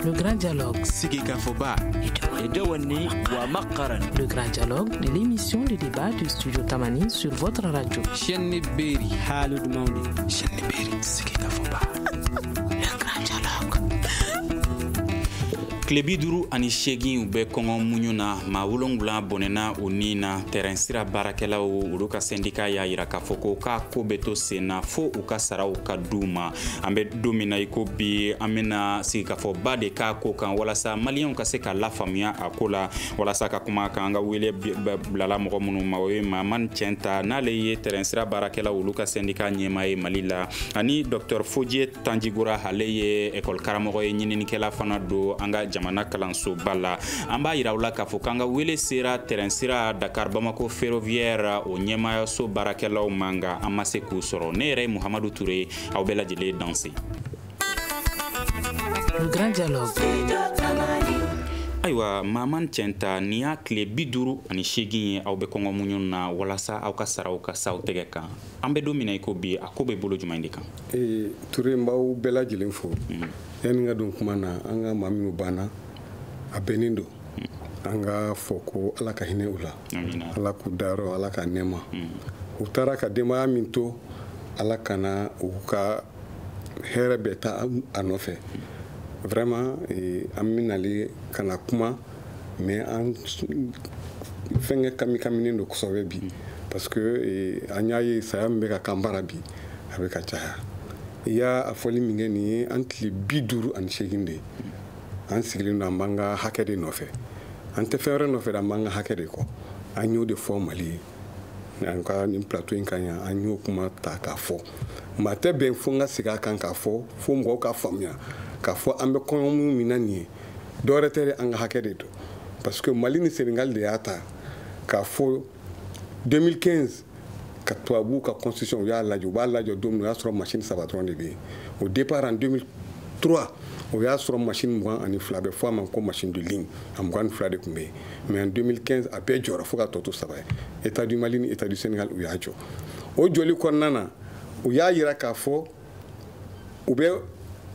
Le Grand Dialogue. Sigikafɔba. Le Grand Dialogue, l'émission de débat du studio Tamani sur votre radio. Chenni Beri. Halud Mauni. Chenni Beri. Sigikafɔba. Le Grand Dialogue. tile bi duru ani seegin u bɛ kɔngɔ muɲu na maa wolonwula bɔnɛna u ni na tɛrɛn sira baarakɛlaw olu ka sɛndika y'a yira k'a fɔ ko k'a ko bɛ to senna fo u ka saraw ka d'u ma an bɛ don min na i ko bi an bɛna sigikafɔba de k'a ko kan walasa maliyɛnw ka se ka lafaamuya a ko la walasa ka kuma a kan an ka wele bilala mɔgɔ minnu ma o ye maman cɛnta n'ale ye tɛrɛn sira baarakɛla olu ka sɛndika ɲɛmaa ye mali la ani dɔktɔr fojiye tanjigora ale ye ekɔli karamɔgɔ ye ɲininikɛla fana don an ka jamana kalanso soba la an b'a yira u la k'a fɔ k'an ka wele sera tɛrɛn sira dakar bamako ferroviaire o ɲɛmaayaso baarakɛlaw ma nka an ma se k'u sɔrɔ ne yɛrɛ ye muhamadu ture ye aw bɛɛ lajɛlen danse Le grand dialogue. ayiwa maman cɛnta nin y'a tile bi duuru ani seegin ye aw bɛ kɔngɔ muɲu na walasa aw ka saraw ka s'aw tɛgɛ kan an bɛ don min na i ko bi a ko bɛ bolo jumɛn de kan ee ture n b'aw bɛɛ lajɛlen fo yanni ka don kuma na an ka maa minnu banna a bɛnnen don an ka fɔ ko ala ka hinɛ u la ala k'u dayɔrɔ ala k'a nɛɛma mm. u taara ka denbaya min to ala kana u ka hɛrɛ bɛɛ ta a nɔfɛ vraiment eh, an bɛ na de ka na kuma mais an fɛnkɛ kamikaminen don kosɛbɛ bi mm. parce que eh, an y'a ye saya min bɛ ka k'an bara bi a bɛ ka caya i y'a fɔli min kɛ nin ye an tile bi duuru ani seegin de ye an sigilen don an b'an ka hakɛ de nɔfɛ an tɛ fɛn wɛrɛ nɔfɛ dɛ an b'an ka hakɛ de kɔ an y'o de fɔ mali ye an ka nin plateau in kan yan an y'o kuma ta k'a fɔ mais a tɛ bɛn fo n ka segin a kan k'a fɔ fo mɔgɔw k'a faamuya k'a fɔ an bɛ kɔngɔ muɲu min na nin ye dɔwɛrɛ tɛ dɛ an ka hakɛ de don parce que mali ni senegal de y'a ta k'a fɔ 2015 ka tubabuw ka concession u y'a lajɔ u b'a lajɔ don min o y'a sɔrɔ machine saba dɔrɔn de bɛ yen au départ en 2003 o y'a sɔrɔ machine mugan ani fila a bɛ fɔ a ma ko machine de ligne a mugan ni fila de tun bɛ yen mais en 2015 a bɛɛ jɔra fo k'a tɔ to saba ye état du mali ni état du sénégal u y'a jɔ o jɔli kɔnɔna na u y'a yira k'a fɔ u bɛ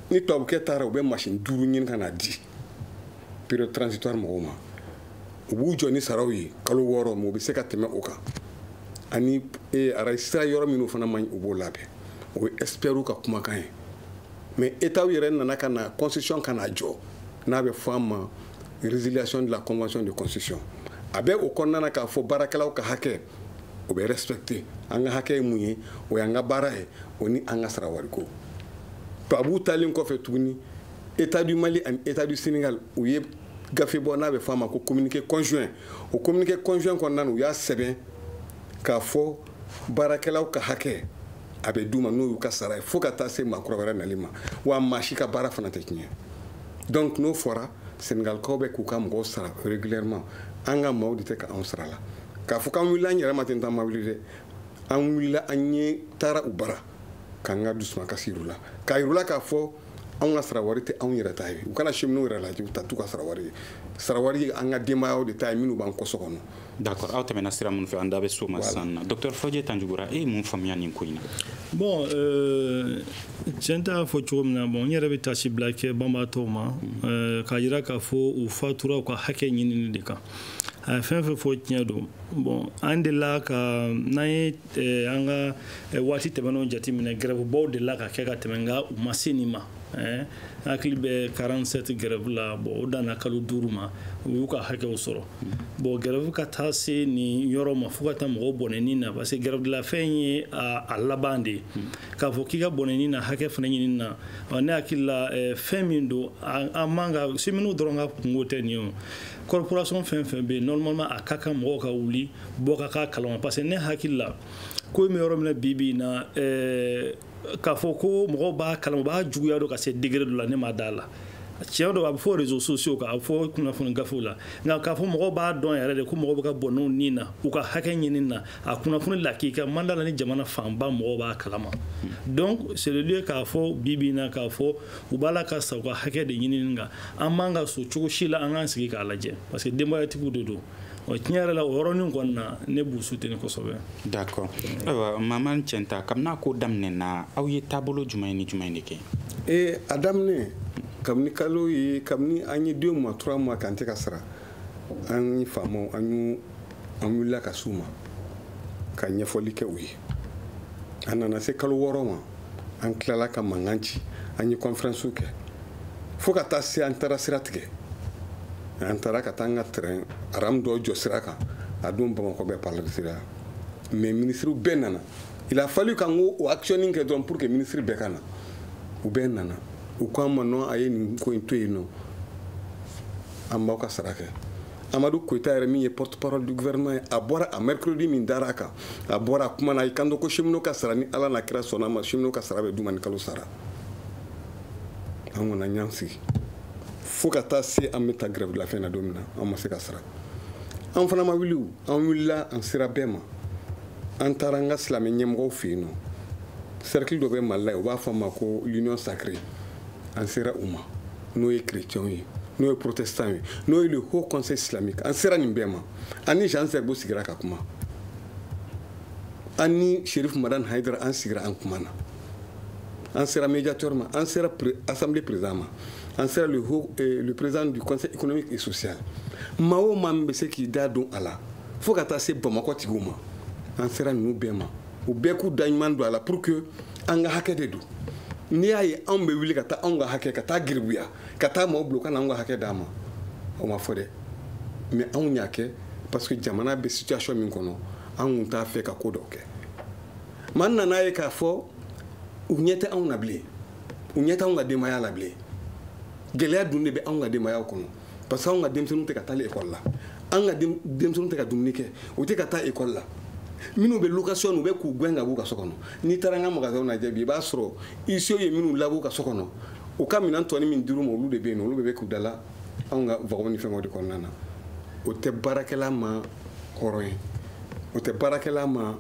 ni tubabukɛ taara u bɛ machine duuru ɲini ka n'a di période transitoire mɔgɔw ma u b'u jɔ ni saraw ye kalo wɔɔrɔ ma u bɛ se ka tɛmɛ o kan ani e arayi sira yɔrɔ minnu fana man ɲi u b'o labɛn o ye ɛsipɛriw ka kumakan ye mais etaw yɛrɛ nana ka na concession ka na jɔ n'a bɛ fɔ a ma résiliation de la convention de concession a bɛ o kɔnɔna na k'a fɔ baarakɛlaw ka hakɛ o bɛ respecter an ka hakɛ ye mun ye o y'an ka baara ye o ni an ka sara wariko tubabuw taalen kɔfɛ tuguni état du mali ani état du sénégal u ye gafe bɔ n'a bɛ fɔ a ma ko communiqué conjoint o communiqué conjoint kɔnɔna na u y'a sɛbɛn k'a fɔ baarakɛlaw ka hakɛ a bɛ d'u ma n'o y'u ka sara ye fo ka taa se maakɔrɔ wɛrɛ nali ma wa maa si ka baara fana tɛ tiɲɛ donc n'o fɔra senegalikaw bɛ k'u ka mɔgɔw sara régulièrement an ka maaw de tɛ ka anw sara la k'a fɔ k'an wulila an yɛrɛ ma ten t'an ma wuli dɛ an wulila an yɛrɛ taara u bara k'an ka dusumakasi yir'u la k'a yir'u la k'a fɔ anw ka sarawari tɛ anw yɛrɛ ta ye u kana cheminotw yɛrɛ lajɛ u ta t'u ka sarawari ye sarawari ye an ka denbayaw de ta ye minnu b'an kɔ so kɔnɔ d'accord aw tɛmɛna sira minnu fɛ an da bɛ s'o ma sisan na docteur fɔjɛ tanjigora e ye mun faamuya nin ko in na bon euh, cɛnta y'a fɔ cogo min na bon n yɛrɛ bɛ taasibila kɛ banbaatɔw ma euh, k'a jira k'a fɔ u fatura u ka hakɛ ɲinini de kan a ye fɛn fɛn fɔ tiɲɛ don bon an delila ka n'an ye eh, an ka eh, waati tɛmɛnenw jateminɛ gɛrɛfubaw delila ka kɛ ka tɛmɛ nka u ma se nin ma eh, hakili bɛ 47 gɛrɛfu la bon o danna kalo duuru ma u y'u ka hakɛw sɔrɔ bon gɛrɛfu ka taa se nin yɔrɔ ma fo ka taa mɔgɔw bɔnɛ ni na parce que grève de la faim ye a laban de ye k'a fɔ k'i ka bɔnɛ ni na hakɛ fana ɲinini na ne hakili la fɛn min don a man kan cheminotw dɔrɔn ka kunko tɛ nin ye corporation fɛn fɛn bɛ yen normalement a ka kan mɔgɔw ka wuli bɔ ka k'a kalama parce que ne hakili la ko in bɛ yɔrɔ min na bi bi in na ɛɛ eh, k'a fɔ ko mɔgɔw b'a kalama u b'a juguya dɔn ka se degré dɔ la ne ma d'a la tiɲɛ don a bɛ fɔ réseaux sociaux kan a bɛ fɔ kunnafoni gafew la nka k'a fɔ mɔgɔw b'a dɔn yɛrɛ de ko mɔgɔw bɛ ka bɔnɛ u ni na u ka hakɛ ɲini na a kunnafoni lakika n ma d'a la ni jamana fanba mɔgɔw b'a kalama donc c'est le lieu k'a fɔ bi bi in na k'a fɔ u b'a la ka sa u ka hakɛ de ɲinini kan an man ka sɔn cogo si la an k'an sigi k'a lajɛ parce que denbayatigiw de don ɔ tiɲɛ yɛrɛ la o yɔrɔnin kɔni na ne b'u soutenir kosɛbɛ d'accord ayiwa mahamane cɛnta kabini a ko daminɛ na aw ye taabolo jumɛn ni jumɛn de kɛ ee a daminɛ kabini kalo ye kabini an ye deux mois trois mois k'an tɛ ka sara an ye faamaw an y'u an wulila ka s'u ma ka ɲɛfɔli kɛ u ye a nana se kalo wɔɔrɔ ma an tilala ka mankan ci an ye kɔnferɛnsiw kɛ fo ka taa se an taara sira tigɛ an taara ka taa an ka tɛrɛn aramu dɔ jɔ sira kan a don bamakɔ bɛɛ paralisira mais minisiriw bɛɛ nana il a fallu k'an k'o action nin kɛ dɔrɔn pour que minisiri bɛɛ ka na u bɛɛ nana u ko an ma non a ye nin ko in to yen nɔ an b'aw ka sara kɛ amadu koyita yɛrɛ min ye porte parole du gouvernement ye a bɔra a mercredi min dara a kan a bɔra a kumana a y'i kanto ko cheminot ka sara ni ala n'a kira sɔnna ma cheminot ka sara bɛ d'u ma ni kalo sara an kɔni an y'an sigi fo ka taa se an bɛ taa grève de la faim na don min na an ma se ka sara an fana ma wuli an wulila an sera bɛɛ ma an taara an ka silamɛ ɲɛmɔgɔw fɛ yen nɔ cercle dɔ bɛ mali la yen u b'a fɔ a ma ko l'union sacrée an sera u ma n'o ye chrétienw ye n'o ye protestant ye n'o ye le haut conseil islamique an sera nin bɛɛ ma an ni jean zerbo sigira ka kuma an ni chérif madan haidara an sigira an kumana an sera médiateur ma an sera assemblée président ma an sera le, haut, eh, le président du conseil économique et social maa o maa min bɛ se k'i da don a la fo ka taa se bamakɔ tigiw ma an sera ninnu bɛɛ ma u bɛɛ k'u da ɲuman don a la pour que an ka hakɛ de don n'i y'a ye anw bɛ wuli ka taa anw ka hakɛ ka taa garibuya ka taa maaw bila u ka na anw ka hakɛ d'an ma o ma fɔ dɛ mais anw y'a kɛ parce que jamana bɛ situation min kɔnɔ an kun t'a fɛ ka ko dɔw kɛ mais an nan'a ye k'a fɔ u ɲɛ tɛ anw na bilen u ɲɛ tɛ anw ka denbaya la bilen gɛlɛya dun de bɛ anw ka denbayaw kɔnɔ parce que anw ka denmisɛnninw tɛ ka taa ekɔli la an ka denmisɛnninw tɛ ka dumuni kɛ u tɛ ka taa ekɔli la minnu bɛ location u bɛ k'u gɛn ka b'u ka so kɔnɔ n'i taara an ka magasinw lajɛ bi i b'a sɔrɔ huissierw ye minnu lab'u ka so kɔnɔ u ka minɛn tɔnin min dir'u ma olu de bɛ yen olu bɛ k'u dala anw ka vagɔn ni fɛngɛw de kɔnɔna na o tɛ baarakɛla ma hɔrɔn ye o tɛ baarakɛla ma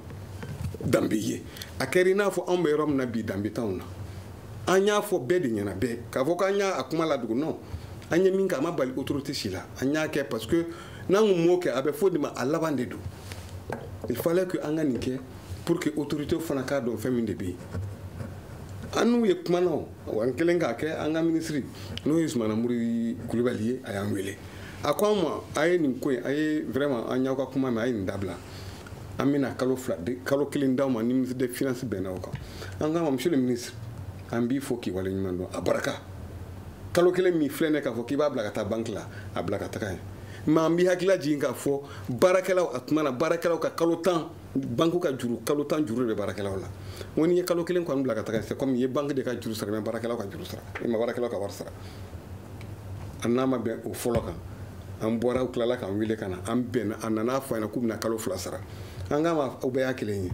danbe ye a kɛra i n'a fɔ anw bɛ yɔrɔ min na bi danbe t'anw na an y'a fɔ bɛɛ de ɲɛna bɛɛ k'a fɔ k'an y'a kuma ladogo non an ye min kɛ a ma bali autorité si la an y'a kɛ parce que n'an kun m'o kɛ a bɛ fɔ de ma a laban de don il fallait que an ka nin kɛ pour que autorité fana k'a dɔn fɛn min de bɛ yen an n'u ye kuma na o wa an kɛlen k'a kɛ an ka minisiri n'o ye sumana mori kulubali ye a y'an wele a ko an ma a ye nin ko in a ye vraiment an y'aw ka kuma mɛn a ye nin dabila an bɛna kalo fila kalo kelen d'aw ma ni ministre de finance bɛnna o kan an k'a ma monsieur le ministre an b'i fo k'i wale ɲuman dɔn a barika kalo kelen min filɛ nin k'a fɔ k'i b'a bila ka taa banki la a bila ka taga yen mais an b'i hakili lajigin k'a fɔ baarakɛlaw a tuma na baarakɛlaw ka kalo tan banki ka juru kalo tan juru de bɛ baarakɛlaw la n ko n'i ye kalo kelen kɔni bila ka taga c'est comme i ye banki de ka juru sara mais baarakɛlaw ka juru sara i ma baarakɛlaw ka wari sara an n'a ma bɛn o fɔlɔ kan an bɔra u tilala k'an wele ka na an bɛnna a nana fɔ an ɲɛna k'u bɛna kalo fila sara an k'a ma aw bɛɛ y'a kelen ye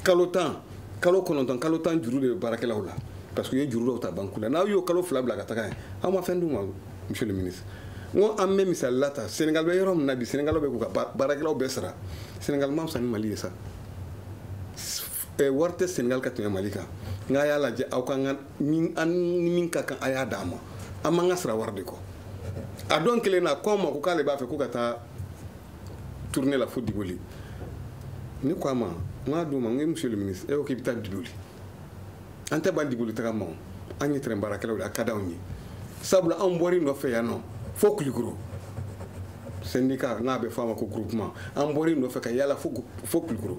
kalo tan kalo kɔnɔntɔn kalo tan juru de bɛ baarakɛlaw la parce que u ye juru dɔw ta banku la n'aw y'o kalo fila bila ka taga yen aw ma fɛn d'u ma monsieur le ministre n ko an bɛ misali la ta senegal bɛ yɔrɔ min na bi senegal bɛ k'u ka baarakɛlaw bɛɛ sara senegal ma fisa ni mali ye sa eh, wari tɛ senegal ka tɛmɛ mali kan nka a y'a lajɛ aw ka an ni min ka kan a y'a d'an ma an b'an ka sara wari de kɔ a don kelen na ko an ma ko k'ale b'a fɛ ko ka taa tournée la fo diboli ne ko a ma n k'a don ma n ko monsieur le ministre e ko k'i bɛ taa diboli an tɛ ban diboli taga ma an ye tɛrɛn baarakɛlaw de a ka d'anw ye sabula anw bɔr'i nɔfɛ yan nɔ fo kulikoro syndicat n'a bɛ fɔ a ma ko groupement an bɔr'i nɔfɛ ka yaala fo kulikoro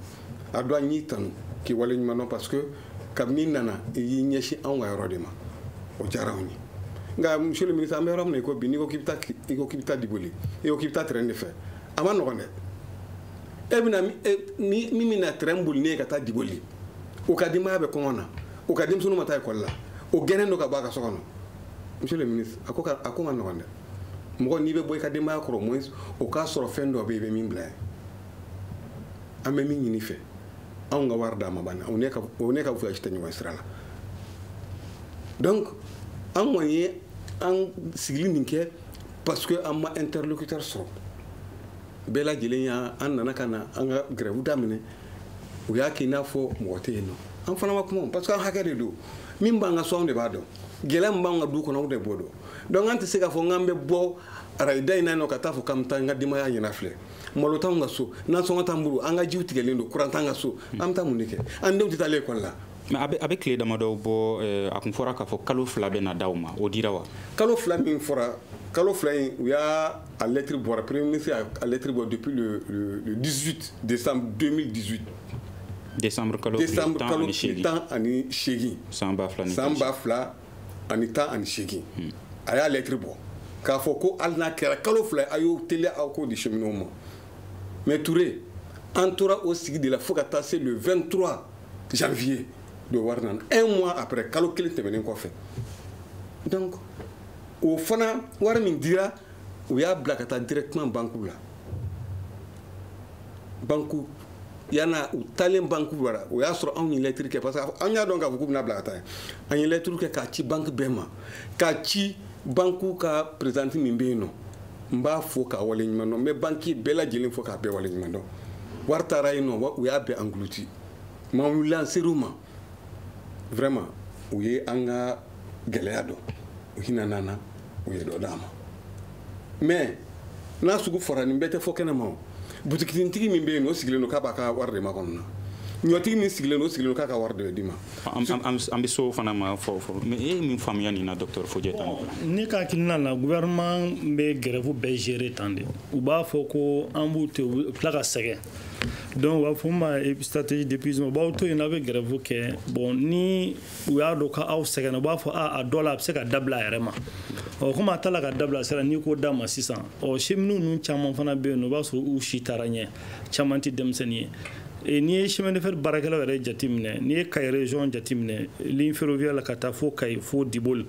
a don an y'i tanu k'i wale ɲuman dɔn parce que kabini i nana i y'i ɲɛsin anw ka yɔrɔ de ma o diyara anw ye nka monsieur le ministre an bɛ yɔrɔ min na i ko bi n'i ko k'i bɛ taa i ko k'i bɛ taa diboli i ko k'i bɛ taa tɛrɛn de fɛ a man nɔgɔn dɛ e bɛna min bɛna tɛrɛn boli n'e ye ka taa diboli o ka denbaya bɛ kɔngɔ na o ka denmisɛnninw ma taa ekɔli la o gɛnnen don ka bɔ a ka so kɔnɔ monsieur le ministre a ko a ko man nɔgɔn dɛ mɔgɔ n'i bɛ bɔ i ka denbaya kɔrɔ au moins o k'a sɔrɔ fɛn dɔ bɛ yen i bɛ min bila yen an bɛ min ɲini i fɛ anw ka wari d'an ma a banna o n'e ka o n'e ka voyage tɛ ɲɔgɔn sira la donc an kɔni ye an sigili nin kɛ parce que an ma interlocuteur sɔrɔ bɛɛ lajɛlen y'a an nana ka na an ka grève daminɛ u y'a kɛ i n'a fɔ mɔgɔ tɛ yen nɔ an fana ma kuma parce que an hakɛ de don min b'an ka so anw de b'a dɔn gɛlɛya min b'an ka du kɔnɔ anw de b'o dɔn donc an tɛ se k'a fɔ n k'an bɛ bɔ arayi da in na yen nɔ ka taa fɔ k'an bɛ taa an ka denbaya ɲɛna filɛ malo t'anw ka so nasɔngɔ t'an bolo an ka jiw tigɛlen don kuran t'an ka so hmm. an bɛ taa mun de kɛ an denw tɛ taa lekɔli la mais a bɛ tile damadɔw bɔ eh, a kun fɔra k'a fɔ kalo fila bɛna d'aw ma o dira wa kalo fila min fɔra kalo fila in u y'a a lɛtiri bɔra premier ministre y'a lɛtiri bɔ depuis le, le, le 18 décembre 2018 décembre kalo décembre kalo tan ani seegin san ba fila san ba fila ani tan ani seegin hmm. a y'a lɛtiri bɔ k'a fɔ ko hali n'a kɛra kalo fila a y'o teliya aw k'o di cheminots ma mais ture an tora o sigi de la fo ka taa se le 23 janvier don wari nana un mois après kalo kelen tɛmɛnen kɔfɛ donc o fana wari min dira u y'a bila ka taa directement banque la banque yana u taalen banque bara o y'a sɔrɔ anw ye lɛtiri kɛ parce que an y'a dɔn k'a fɔ k'u bɛna bila ka taa an ye lɛtiriw kɛ k'a ci banque bɛɛ ma k'a ci banque ka présidente min bɛ yen nɔ n b'a fo k'a wale ɲuman dɔn n bɛ banque bɛɛ lajɛlen fo k'a bɛɛ wale ɲuman dɔn wari taara yen nɔ u y'a bɛɛ englouti mais an wulila an ser'u ma vraiment u ye an ka gɛlɛya dɔn u hinɛna an na u ye dɔ d'an ma mais n'a sugu fɔra nin bɛɛ tɛ fɔ kɛnɛ ma o butikinintigi min bɛ yen o sigilen don k'a b'a ka wari de makɔnɔ na ɲɔtigi min sigilen don o sigilen don k'a ka wari de d'i ma an bɛ so fana ma fɔ fɔ mais e ye min faamuya nin na docteur Fodié tan ne ka hakilina la gouvernement bɛ grève bɛɛ gérer tan de u b'a fɔ ko an b'u to u tila ka sɛgɛn donc u b'a fɔ a ma stratégie d'épuisement u b'aw to yen n'a bɛ grève kɛ bon ni u y'a dɔn k'aw sɛgɛnna u b'a fɔ a a dɔ la a bɛ se ka dabila a yɛrɛ ma ɔ komi a taara ka dabila sira n'i ko d'a ma sisan ɔ cheminots ninnu caman fana bɛ yen nɔ i b'a sɔrɔ u si taara ɲɛ caman tɛ denmisɛnnin ye E, n'i ye chemin de fer baarakɛlaw yɛrɛ jateminɛ n'i ye Kayi région jateminɛ ligne ferroviaire la ka taa fo Kayi fo Diboli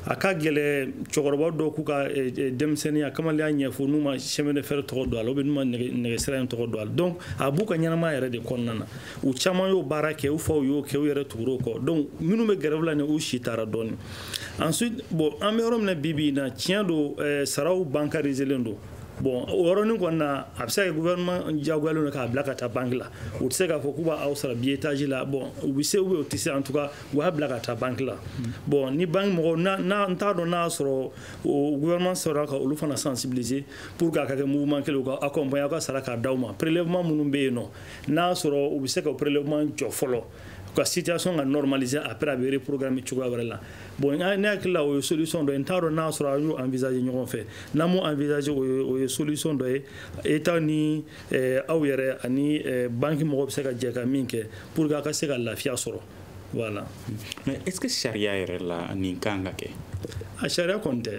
a ka gɛlɛ cɛkɔrɔba dɔw k'u ka eh, eh, denmisɛnninya kamaleya ɲɛfɔ n'u ma chemin de fer tɔgɔ don a la ou bien n'u ma nɛgɛsira in tɔgɔ don a la donc a b'u ka ɲɛnamaya yɛrɛ de kɔnɔna na u caman y'o baara kɛ u faw y'o kɛ u yɛrɛ tugur'o kɔ donc minnu bɛ grève la ni u si taara dɔɔni ensuite bon an bɛ yɔrɔ min na bi bi in na tiɲɛ don eh, saraw bancariselen don bon o yɔrɔnin kɔni na a bɛ se ka kɛ gouvernement diyagoyalen don k'a bila ka taa banque la u tɛ se k'a fɔ k'u b'aw sara billetage la bon u bɛ se ou bien u tɛ se en tout cas u y'a bila ka taa banki la bon ni banki mɔgɔw n'a n t'a dɔn n'a y'a sɔrɔ o gouvernement sera ka olu fana sensibiliser pour que a ka kɛ mouvement kelen u ka accompagner aw ka sara k'a d'aw ma prélèvement minnu bɛ yen nɔ n'a y'a sɔrɔ u bɛ se ka prélèvement jɔ fɔlɔ ka situation ka normaliser après a bɛ reprogrammer cogoya wɛrɛ la bon ne hakili la o ye solution dɔ ye n t'a dɔn n'a sɔrɔ an y'o envisager ɲɔgɔn fɛ n'an m'o envisager o ye o ye solution dɔ ye État ni aw yɛrɛ ani banki mɔgɔw bɛ se ka jɛ ka min kɛ pour que a ka se ka lafiya sɔrɔ voilà mais est-ce que sariya yɛrɛ la nin kan ka kɛ a sariya kɔni tɛ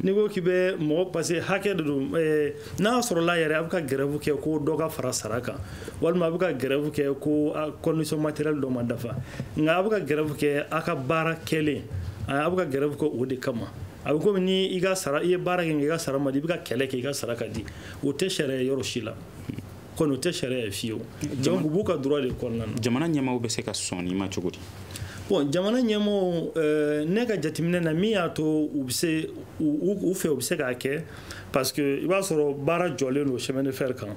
n'i ko k'i bɛ mɔgɔ parce que hakɛ de don eh, n'a sɔrɔla yɛrɛ a bɛ ka grève kɛ ko dɔ ka fara sara kan walima a bɛ ka grève kɛ ko condition matérielle dɔ ma dafa nka a bɛ ka grève kɛ a ka baara kɛlen a bɛ ka grève kɛ o de kama a bɛ komi ni i ka sara i ye baara kɛ nka i ka sara ma di i bɛ ka kɛlɛ kɛ i ka sara ka di o tɛ sariya yɔrɔ si la kɔni o tɛ sariya ye fiyewu donc u b'u ka droit de kɔnɔna na jamana ɲɛmaaw bɛ se ka sɔn nin ma cogo di bon jamana ɲɛmɔgɔw eh, ne ka jateminɛ na min y'a to u bɛ se u fɛ u bɛ se k'a kɛ parce que i b'a sɔrɔ baara jɔlen don chemin de fer kan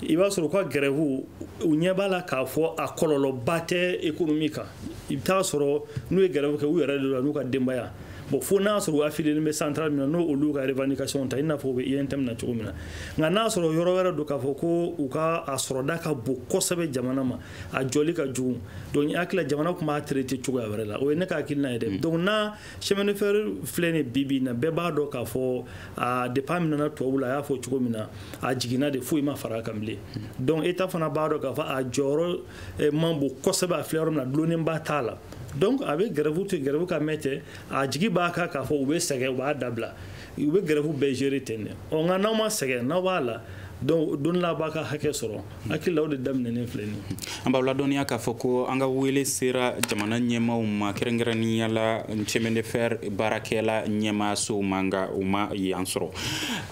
i b'a sɔrɔ u ka grève u ɲɛ b'a la k'a fɔ a kɔlɔlɔba tɛ économie kan i bɛ taa sɔrɔ n'u ye grève kɛ u yɛrɛ de la n'u ka denbaya bon fo n'a sɔrɔ u affilielen bɛ centrale min na n'o olu ka revendication ta i n'a fɔ u bɛ UNTM na cogo min na nka n'a sɔrɔ yɔrɔ wɛrɛ don k'a fɔ ko u ka a sɔrɔda ka bon kosɛbɛ jamana ma a joli ka jugu donc n hakili la jamana tun b'a traiter cogoya wɛrɛ la o ye ne ka hakilina ye dɛ mm. donc n'a chemin de fer filɛ nin bi bi na bɛɛ b'a dɔn k'a fɔ a depuis a minɛna tubabu la a y'a fɔ cogo min na a jiginna de foyi ma fara a kan bilen mm. donc État fana b'a dɔn k'a fɔ a jɔyɔrɔ eh, man bon kosɛbɛ a filɛ yɔrɔ min na dulonnenba t'a la donc a bɛ gɛrɛfu to gɛrɛfu ka mɛn ten a jigi b'a kan k'a fɔ u bɛ sɛgɛn u b'a dabila u bɛ gɛrɛfu bɛɛ gérer ten de ɔ nka n'aw ma sɛgɛn n'aw b'a la donc don la b'a ka hakɛ sɔrɔ hakili la o de daminɛnen filɛ nin an b'aw ladɔnniya k'a fɔ ko an ka wele sera jamana ɲɛmaaw ma kɛrɛnkɛrɛnnenya la chemin de fer baarakɛla ɲɛmaasow ma nka u ma yan sɔrɔ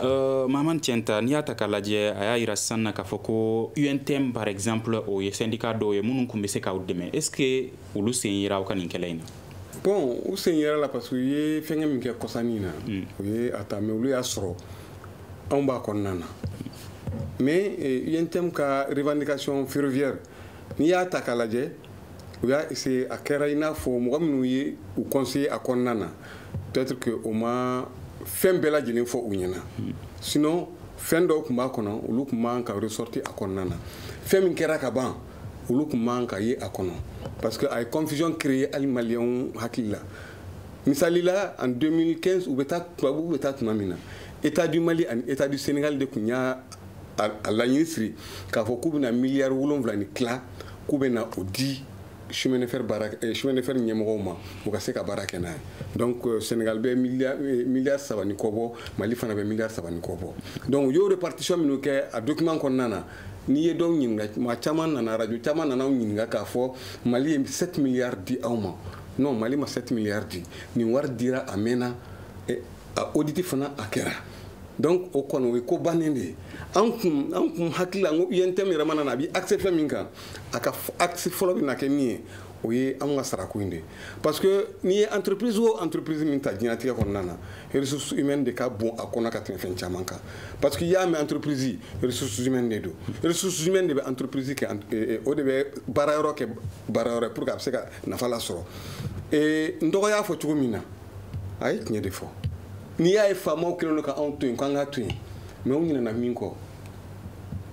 Euh, Mahamane Tienta, n'i y'a ta k'a lajɛ a y'a yira sisan na k'a fɔ ko UNTM par exemple o ye syndicat dɔw ye minnu tun bɛ se k'aw dɛmɛ est ce que olu sen yera aw ka nin kɛlɛ in na bon u sen yera a la parce que u ye fɛngɛ min kɛ kɔsa nin na hmm. u ye a ta mais olu y'a sɔrɔ anw b'a kɔnɔna na mais UNTM eh, ka revendication ferroviaire n'i y'a ta k'a lajɛ u y'a essayer a kɛra i n'a fɔ mɔgɔ minnu ye u conseiller a kɔnɔna na peut-être que o ma fɛn bɛɛ lajɛlen fɔ u ɲɛna sinon fɛn dɔw kun b'a kɔnɔ olu kun man ka ressortir a kɔnɔna na fɛn min kɛra ka ban olu kun man ka ye a kɔnɔ parce que a ye confusion créer hali maliyɛnw hakili la misali la en 2015 u bɛ taa tubabuw bɛ taa tuma min na état du mali ani état du sénégal de kun y'a laɲini siri k'a fɔ k'u bɛna miliyari wolonwula ni tila k'u bɛna o di chemin de fer baara eh, chemin de fer ɲɛmɔgɔw ma u ka se ka baara kɛ n'a ye donc euh, Sénégal bɛ milliard eh, milliard saba ni kɔ bɔ Mali fana bɛ milliard saba ni kɔ bɔ donc u y'o répartition minnu kɛ a document kɔnɔna na n'i ye dɔw ɲininka maa caman nana radio caman nana anw ɲininka k'a fɔ Mali ye 7 milliards di aw ma non Mali ma 7 milliards di nin wari dira a mɛnna eh, a audit fana a kɛra donc o kɔni o ye ko bannen de ye an kun an kun hakili la n ko UNTM yɛrɛ mana na a b'i axer fɛn min kan a ka axe fɔlɔ bɛna kɛ min ye o ye an ka sarako in de parce que n'i ye entreprise o entreprise min ta diɲɛnatigɛ kɔnɔna na ressources humaines de ka bon a kɔnɔ ka tɛmɛ fɛn caman kan parce que i y'a mɛn entreprise ressources humaines de don ressources humaines de bɛ entreprise kɛ eh, eh, o de bɛ baara yɔrɔ kɛ baara yɔrɔ pour que a bɛ se ka nafa lasɔrɔ eh, n dɔgɔ y'a fɔ cogo min na a ye tiɲɛ de fɔ n'i y'a ye faamaw kɛlen don ka anw to yen k'an ka to yen mais u ɲinɛna min kɔ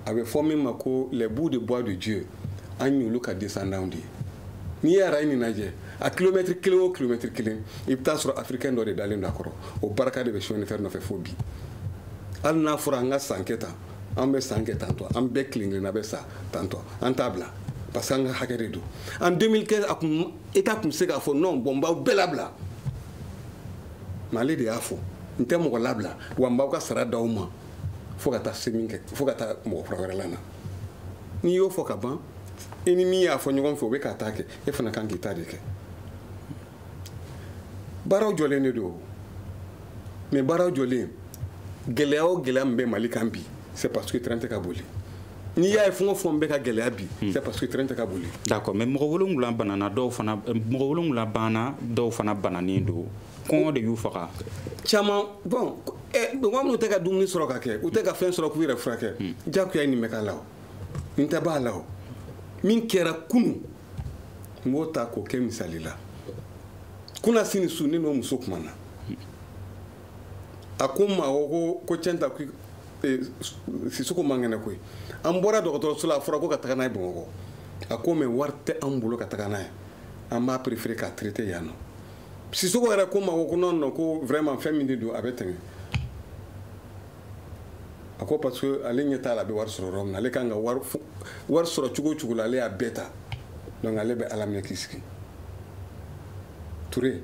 a bɛ fɔ min ma ko les bouts de bois de Dieu an y'olu ka descendants de ye n'i ye arayi nin lajɛ a kilomɛtiri kelen o kilomɛtiri kelen i bɛ taa sɔrɔ africain dɔ de dalen don a kɔrɔ o barika de bɛ chemin de fer nɔfɛ fo bi hali n'a fɔra an ka san kɛ tan an bɛ san kɛ tantɔ an bɛɛ kelen kelenna bɛ sa tantɔ an t'a bila parce que an ka hakɛ de don en 2015 a kun état kun se k'a fɔ non bon n b'aw bɛɛ labila mais ale de y'a fɔ n tɛ mɔgɔ labila wa n b'aw ka sara d'aw ma fo ka taa se min kɛ fo ka taa mɔgɔ kura wɛrɛ lana n'i y'o fɔ ka ban i ni min y'a fɔ ɲɔgɔn fɛ o bɛ k'a ta kɛ e fana kan k'i ta de kɛ baaraw jɔlen de don mais baaraw jɔlen gɛlɛya o gɛlɛya min bɛ mali kan bi c'est parce que train tɛ ka boli n'i y'a ye fɛn o fɛn bɛ ka gɛlɛya bi hmm. c'est parce que train tɛ ka boli d'accord mais mɔgɔ wolonwula banana dɔw fana mɔgɔ wolonwula banna dɔw fana bananen don kɔngɔ de y'u faga caman bon eh, mɔgɔ minnu tɛ ka dumuni sɔrɔ ka kɛ u tɛ ka fɛn sɔrɔ k'u yɛrɛ furakɛ hmm. jagoya ye nin bɛ k'a la o nin tɛ b'a la o min kɛra kunu n b'o ta k'o kɛ misali la kunasini su ne n'o muso kumana hmm. a ko n ma ko ko cɛn ta eh, sisoko man kɛnɛ koyi an bɔra dɔgɔtɔrɔso la a fɔra ko ka taga n'a ye bamakɔ a ko mais wari tɛ an bolo ka taga n'a ye an b'a préféré k'a traiter yan nɔ sisoko yɛrɛ ko n ma ko ko non non ko vraiment fɛn min de don a bɛ tɛmɛ a ko parce que ale ɲɛ t'a la a bɛ wari sɔrɔ yɔrɔ min na ale kan ka wari wari sɔrɔ cogo o cogo la ale y'a bɛɛ ta donc ale bɛ ala minɛ k'i sigi ture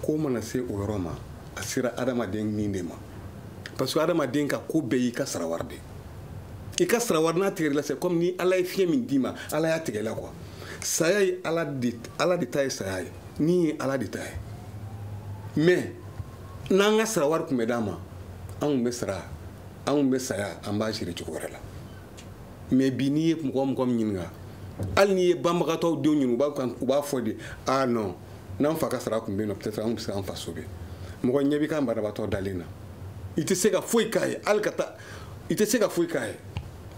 ko mana se o yɔrɔ ma a sera adamaden ni de ma parce que adamaden ka ko bɛɛ y'i ka sarawari de i ka sarawari n'a tigɛr'i la c'est comme ni ala ye fiɲɛ min d'i ma ala y'a tigɛ la quoi saya ye ala de ala de ta ye saya ye ni ye ala de ta ye mais n'an ka sarawari tun bɛ d'an ma an tun bɛ sara an tun bɛ saya an b'a siri cogo wɛrɛ la mais bi n'i ye mɔgɔ mɔgɔ min ɲininka hali n'i ye banbagatɔw denw ɲininka u b'a fɔ de ah non n'an fa ka sara tun bɛ yen nɔ peut-être an tun bɛ se k'an fa sauver mɔgɔ ɲɛ b'i ka banabaatɔ dalen na i tɛ se ka foyi k'a ye hali ka taa i tɛ se ka foyi k'a ye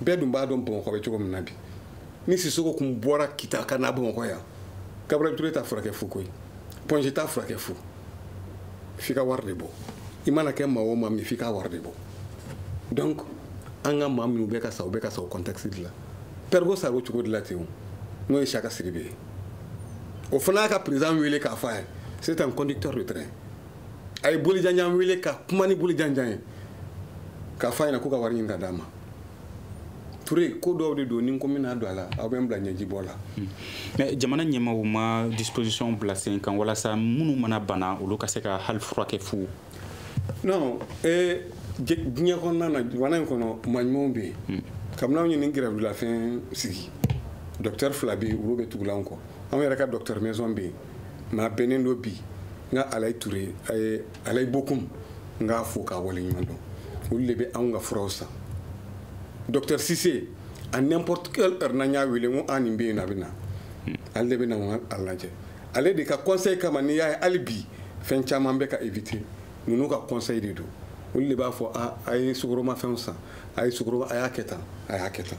bɛɛ dun b'a dɔn bamakɔ bɛ cogo min na bi ni sisoko tun bɔra kita ka na bamakɔ yan gabriel ture t'a furakɛ fu koyi point g t'a furakɛ fu f'i ka wari de bɔ i mana kɛ maa o maa min f'i ka wari de bɔ donc an ka maa minnu bɛ ka sa u bɛ ka sa o contexte de la pɛrigo sara o cogo de la ten o n'o ye saka siribe ye o fana y'a ka président wele k'a fɔ a ye c'est un conducteur de train a ye bolijanjan wele ka kuma ni bolijanjan ye k'a fɔ a ɲɛna ko ka wari ɲini ka d'a ma ture ko dɔw de don ni n ko n bɛ n da don a la aw bɛ n bila ɲɛjibɔ la mais jamana ɲɛmaaw ma disposition bila sen kan walasa minnu mana bana olu ka se ka hali furakɛ fu non eh, diɲɛ kɔnɔna na jamana in kɔnɔ maa ɲumanw bɛ yen kabini anw ye nin grève de la faim sigi docteur fila bɛ yen olu bɛ tugulen an kɔ anw yɛrɛ ka docteur maison bɛ yen mais a bɛnnen don bi n ka alayi ture a ye alayi bokum n k'a fo k'a waleɲuman dɔn olu de bɛ anw ka furaw san docteur sise à n'importe quelle heure n'an y'a wele n ko a nin bɛ yen a bɛ na ale de bɛ na a lajɛ ale de ka conseil kama n'i y'a ye hali bi fɛn caman bɛ ka éviter ninnu ka conseil de don olu de b'a fɔ a a ye sukoromafɛnw san a ye sukoro a y'a kɛ tan a y'a kɛ tan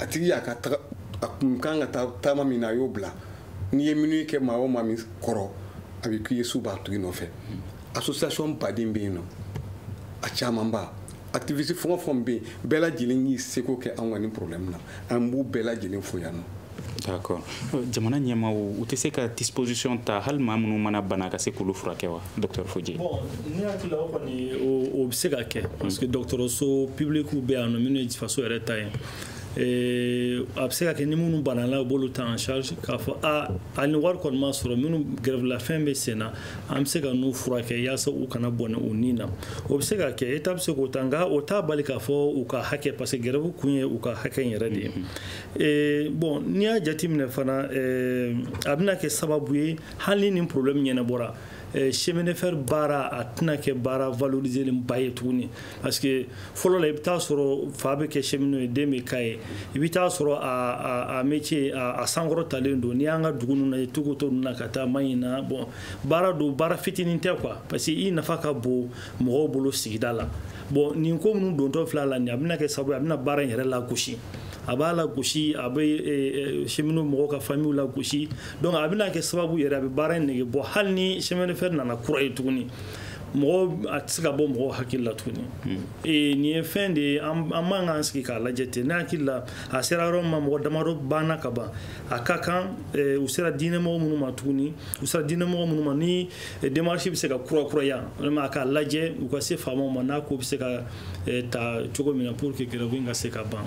a tigi y'a ka taga a kun kan ka taa taama min na a y'o bila n'i ye minnu kɛ maa o maa min kɔrɔ a bɛ k'i ye su b'a tigi nɔfɛ association baden bɛ yen nɔ a camanba activiste fɛn o fɛn bɛ yen bɛɛ lajɛlen y'i seko kɛ anw ka nin problème na an b'u bɛɛ lajɛlen fo yan nɔ d'accord euh, jamana ɲɛmaaw u tɛ se ka disposition ta hali maa minnu mana bana ka se k'olu furakɛ wa docteur foje bon ne hakili la o kɔni o bɛ se ka kɛ parce que dɔgɔtɔrɔso public bɛ yan nɔ minnu ye faso yɛrɛ ta ye Eh, a bɛ se ka kɛ ni minnu banana u b'olu ta en charge k'a fɔ a a ni wari kɔni ma sɔrɔ minnu grève de la faim bɛ sen na an bɛ se ka n'u furakɛ yaasa u kana bɔnɛ u ni na o bɛ se ka kɛ État bɛ se k'o ta nka o t'a bali k'a fɔ u ka hakɛ parce que grève kun ye u ka hakɛ in yɛrɛ de ye Eh, bon n'i y'a jateminɛ fana eh, a bɛna kɛ sababu ye hali ni problème ɲɛnabɔra eh, chemin de fer baara a tɛna kɛ baara valorisélenba ye tuguni parce que fɔlɔ la i bɛ taa sɔrɔ fa bɛ kɛ cheminot ye den bɛ k'a ye i bɛ taa sɔrɔ a a métier a sankɔrɔtalen don n'i y'an ka dugu ninnu lajɛ Toukoto ninnu na ka taa Mahina bon baara don baara fitinin tɛ quoi parce que i nafa ka bon mɔgɔw bolo sigida la bon nin ko minnu dontɔ filɛ a la nin a bɛna kɛ sababu ye a bɛna baara in yɛrɛ lagosi. a b'a lagosi a bɛ eh, eh, cheminot mɔgɔw ka famille lagosi donc a bɛna kɛ sababu yɛrɛ a bɛ baara in nege bɔ hali ni chemin de fer nana kura ye tuguni mɔgɔ a tɛ se ka bɔ mɔgɔw hakili la tuguni hmm. eh, nin ye fɛn de ye an man k'an sigi k'a lajɛ ten ne hakili la a sera yɔrɔ min ma mɔgɔ damadɔ banna ka ban a ka kan u sera diinɛmɔgɔ minnu ma tuguni u sera diinɛmɔgɔ minnu ma ni démarche bɛ se ka kurakuraya walima a k'a lajɛ u ka se faamaw ma n'a ko bɛ se ka Eh, ta cogo min na pour que grève in ka se ka ban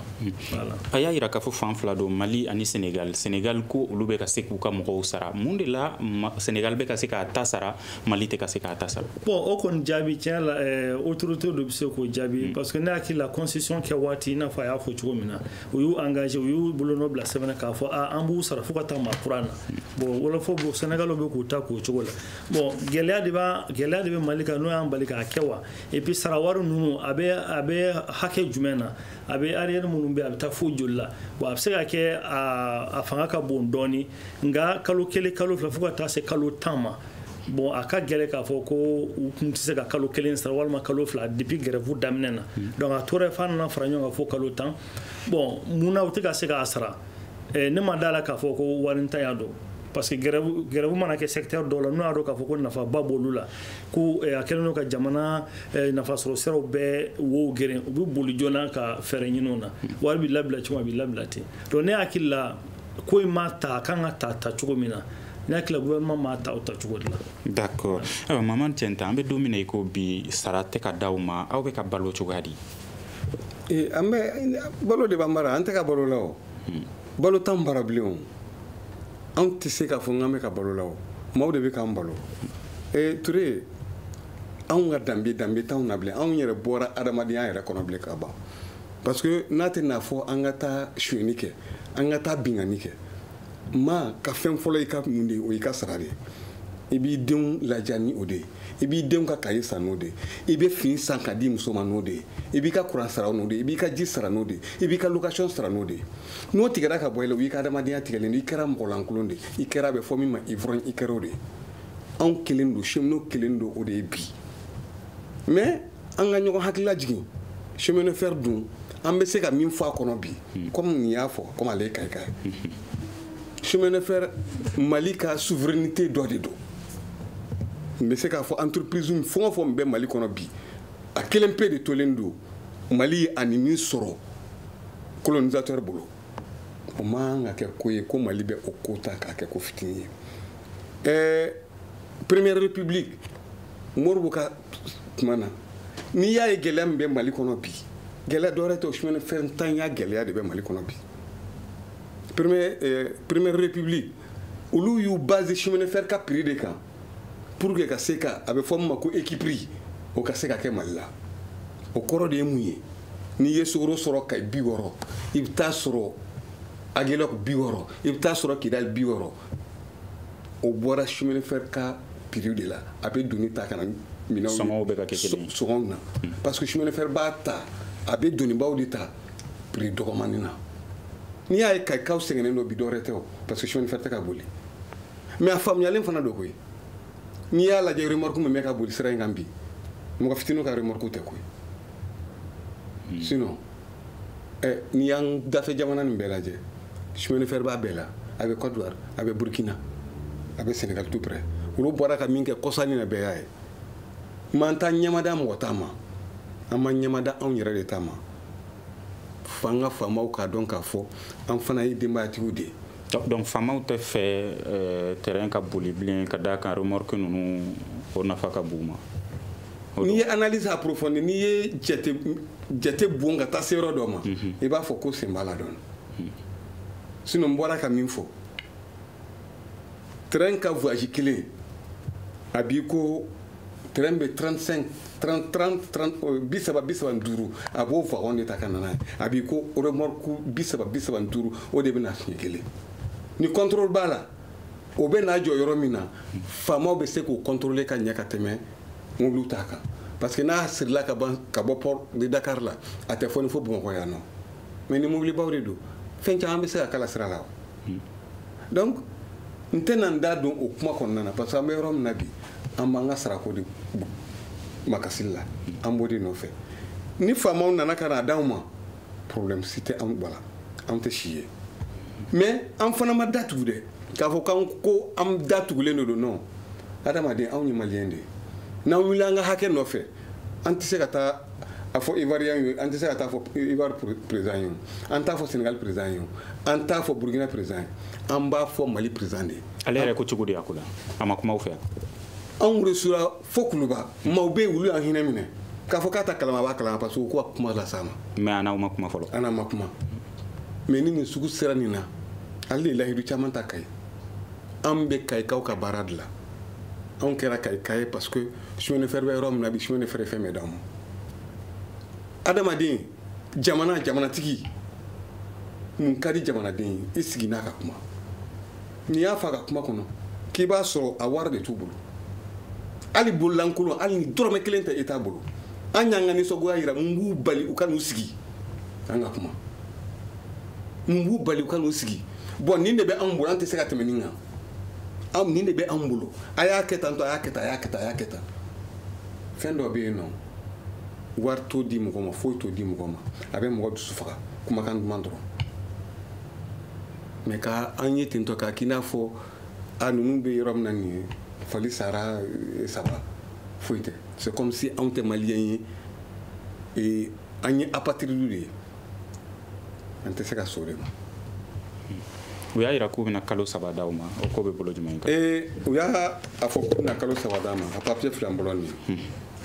voilà a y'a yira k'a fɔ fan fila don mali ani senegal senegal ko olu bɛ ka se k'u ka mɔgɔw sara mun de la senegal bɛ ka se k'a ta sara mali tɛ ka se k'a ta sara bon o kɔni jaabi tiɲɛ la eh, autorité dɔ bɛ se k'o jaabi hmm. parce que ne hakili la constitution kɛ waati i n'a fɔ a y'a fɔ cogo min na u y'u engagé u y'u bolonɔ bila sɛbɛn na k'a fɔ a an b'u sara fo ka taa maa kura na hmm. bon wolofɔ b'o senegal bɛ k'u ta k'o cogo la bon gɛlɛya de b'a gɛlɛya de bɛ mali kan n'o y'an bali k'a kɛ wa et puis sarawari ninnu a bɛ a bɛ hakɛ jumɛn na a bɛ arriérés minnu bɛ a bɛ taa fo joli la bon a bɛ se ka kɛ a fanga ka bon dɔɔni nka kalo kelen kalo fila fo ka taa se kalo tan ma bon a ka gɛlɛn k'a fɔ ko u tun tɛ se ka kalo kelen sara walima kalo fila depuis grève daminɛna hmm. donc a tora f'a nana fara ɲɔgɔn kan fo kalo tan bon mun na u tɛ ka se k'a sara eh, ne ma d'a la k'a fɔ ko warintanya don parce que grève mana kɛ secteur dɔw la n'u y'a dɔn k'a fɔ ko nafaba b'olu la ko eh, a kɛlen don ka jamana eh, nafasɔrɔ siraw bɛɛ wo geren u bɛ boli joona ka fɛɛrɛ ɲini o na wari bɛ labila cogo a bɛ labila ten donc ne hakili la ko in ma ta a kan ka ta ta cogo min na ne hakili la gouvernement ma ta o ta cogo de la. d'accord ayiwa maman tienta an bɛ don min na i ko bi sara tɛ ka d'aw ma aw bɛ ka balo cogoya di. Eh, an bɛ balo de b'an bara an tɛ ka balo la o. Hmm. balo t'an bara bilen o anw tɛ se k'a fɔ n k'an bɛ ka balo la o maaw de bɛ k'an balo ee ture anw ka danbe danbe t'anw na bilen anw yɛrɛ bɔra adamadenya yɛrɛ kɔnɔ bilen ka ban parce que n'a tɛ n'a fɔ an ka taa sonyɛni kɛ an ka taa binkanni kɛ maa ka fɛn fɔlɔ i ka mun de ye o y'i ka sara de ye i b'i denw ladiya ni o de ye i b'i denw ka kaye san n'o de ye i bɛ fini san k'a d'i muso ma n'o de ye i b'i ka kuran sara n'o de ye i b'i ka ji sara n'o de ye i b'i ka location sara n'o de ye n'o tigɛra ka bɔ i la o y'i ka adamadenya tigɛlen don i kɛra mɔgɔlankolon de ye i kɛra a bɛ fɔ min ma ivrogne i kɛra o de ye anw kɛlen don cheminot kɛlen don o de ye bi mais an ka ɲɔgɔn hakilila jigin chemin de fer dun an bɛ se ka min fɔ a kɔnɔ bi hmm. comme nin y'a fɔ comme ale ye kayika ye chemin de fer mali ka souveraineté dɔ de don n bɛ se k'a fɔ entreprise fɛn o fɛn bɛ mali kɔnɔ bi a kelen pe de tolen don mali ye an ye min sɔrɔ colonisateur bolo o man kan ka kɛ ko ye ko mali bɛ o ko ta k'a kɛ ko fitini ye ɛɛ première république modibo ka tuma na n'i y'a ye gɛlɛya min bɛ mali kɔnɔ bi gɛlɛya dɔwɛrɛ tɛ o chemin de fer ntanya gɛlɛya de bɛ mali kɔnɔ bi première euh, république olu y'u basé chemin de fer ka prix de kan pour que ka se ka a bɛ fɔ min ma ko équipri o ka se ka kɛ mali la o kɔrɔ de ye mun ye n'i ye sukaro sɔrɔ kayi bi wɔɔrɔ i bɛ taa sɔrɔ agelɔk bi wɔɔrɔ i bɛ taa sɔrɔ kidali bi wɔɔrɔ o bɔra chemin de fer ka prix de la a bɛ doni ta ka na minɛnw sɔngɔw bɛ ka kɛ kelen ye sɔngɔw na parce que chemin de fer b'a ta a bɛ donibaw de ta prix dɔgɔmanin na n'i y'a ye kayikaw sɛgɛnnen don bi dɔwɛrɛ tɛ o parce que chemin de fer tɛ ka boli mais a faamuyalen fana don koyi n'i y'a lajɛ remorque min bɛ ka boli sira in kan bi mɔgɔ fitiniw ka remorque tɛ koyi hmm. sinon eh, n'i y'an dafɛ jamana nin bɛɛ lajɛ chemin de fer b'a bɛɛ la a bɛ Côte d'Ivoire a bɛ Burkina a bɛ Sénégal tout près olu bɔra ka min kɛ kɔsa in na bɛɛ y'a ye mais an t'an ɲɛmada mɔgɔ ta ma an b'an ɲɛmada anw yɛrɛ de ta ma f'an ka faamaw k'a dɔn k'a fɔ an fana ye denbayatigiw de ye donc faamaw t'a fɛ euh, train ka boli bilen ka d'a kan remorque ninnu o nafa ka bon u ma n'i ye analyse approfondie n'i ye jate jate bon ka taa se yɔrɔ dɔ ma mhm. i b'a fɔ k'u sen b'a la dɔɔni mhm. sinon n bɔra ka min fɔ train ka voyage kelen a b'i ko train bɛ 35 bi saba ni duuru a b'o wagon de ta ka na n'a ye a b'i ko remorque bi saba bi saba ni duuru o de bɛ na siɲɛ kelen ni contrôle b'a la o bɛ n'a jɔ yɔrɔ min na faamaw bɛ se k'o contrôler ka ɲɛ ka tɛmɛ mobili t'a kan parce que n'a sirila ka ban ka bɔ port de Dakar la a tɛ foni fo Bamakɔ yan nɔ mais ni mobilibaw de don fɛn caman bɛ se ka k'a la sira la donc n tɛna n da don o kuma kɔnɔna na parce que an bɛ yɔrɔ min na bi an b'an ka sarako de makasili la an b'o de nɔfɛ ni faamaw nana ka n'a d'anw ma problème si tɛ anw bala anw tɛ si ye mais an fana ma da tugu dɛ k'a fɔ k'an ko an da tugulen de don non adamaden anw ye maliyɛn de ye n'an wulila an ka hakɛ nɔfɛ an tɛ se ka taa a fɔ ivoirien ye an tɛ se ka taa fɔ ivoire président ye an t'a fɔ sénégal président ye an t'a fɔ burkina président ye an b'a fɔ mali président de ye ale yɛrɛ ko cogo di a ko la a ma kuma aw fɛ anw reçura fo kuluba maaw bɛ yen olu y'an hinɛ minɛ k'a fɔ k'a t'a kalama a b'a kalama parce que u ko ka kuma las'a ma mais a n'aw ma kuma fɔlɔ an n'a ma kuma mais ni nin sugu sera nin na ale de lahidu caman ta kayi an bɛ kayikaw ka baara de la anw kɛra kayika ye parce que chemin de fer bɛ yɔrɔ min na bi chemin de fer ye fɛn bɛɛ d'anw ma adamaden jamana jamanatigi mun ka di jamanaden ye i sigi n'a ka kuma n'i y'a fɔ a ka kuma kɔnɔ k'i b'a sɔrɔ a wari de t'u bolo hali bololankolon hali ni dɔrɔmɛ kelen tɛ e t'a bolo an y'an ka nisɔngoya yira mun b'u bali u ka n'u sigi an ka kuma mun b'u bali u ka n'u sigi bon nin de bɛ anw bolo an tɛ se ka tɛmɛ nin kan anw nin de bɛ anw bolo a y'a kɛ tan to a y'a kɛ tan a y'a kɛ tan a y'a kɛ tan fɛn dɔ bɛ yen nɔ wari t'o di mɔgɔ ma foyi t'o di mɔgɔ ma a bɛ mɔgɔ dusu faga kumakan duman dɔrɔn mais ka an ye ten tɔ k'a k'i n'a fɔ an ninnu bɛ yɔrɔ min na nin ye fali sara eh, saba foyi tɛ c'est comme si anw tɛ maliyɛn ye eh, an ye apatridew de ye an tɛ se ka sɔn o de ma u y'a yira k'u bɛna kalo saba d'aw ma o ko bɛ bolo jumɛn kan ee u y'a fɔ k'u bɛna kalo saba d'an ma a papiye filɛ n bolo nin ye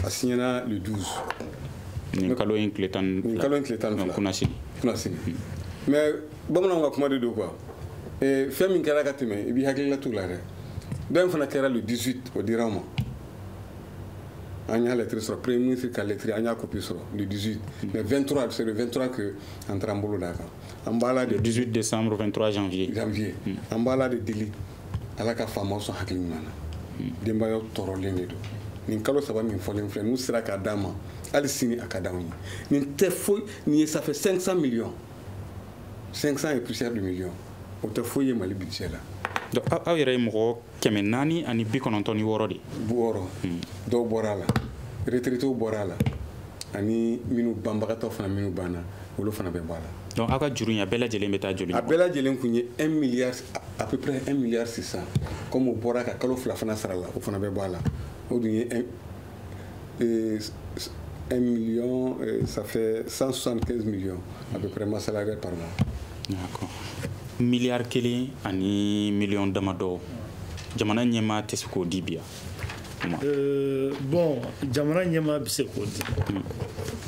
a siɲɛna le 12 nin kalo in tile tan nin kalo in tile tan ni fila kunasini kunasini mais bamananw ka kuma de don quoi ee fɛn min kɛra ka tɛmɛ i b'i hakilila t'o la dɛ dɔ in fana kɛra le 18 o dira an ma an y'a lɛtiri sɔrɔ premier ministre ka lɛtiri an y'a kopi sɔrɔ le 18 mais 23 c'est le 23 que an taara an bolo d'a kan an b'a la de 18 décembre 23 janvier janvier hmm. an b'a la de deli ala ka faamaw sɔn hakili ɲuman na hmm. denbayaw tɔɔrɔlen de don nin kalo saba min fɔlen filɛ n'u sera k'a d'an ma hali sini a ka d'anw ye nin tɛ foyi nin ye ça fait 500 millions 500 et poussière de millions o tɛ foyi ye mali budget la donc aw yɛrɛ ye mɔgɔ kɛmɛ naani ani bi kɔnɔntɔn ni wɔɔrɔ de wɔɔrɔ hmm. dɔw bɔra a la retraités bɔra a la ani minnu banbagatɔ fana minnu banna olu fana bɛ bɔ a la donc aw ka juru in a bɛɛ lajɛlen bɛ taa joli a bɛɛ lajɛlen kun ye 1 milliard à peu près 1 milliard 600 comme o bɔra ka kalo fila fana sara la o fana bɛ bɔ a la o dun ye Et 1 million, ça fait 175 millions, à peu près, masse salaire par mois. D'accord. Milliard kelen ani million damadɔ jamana ɲɛmaa tɛ se k'o di bi wa, bon jamana ɲɛmaa bɛ se k'o di hmm.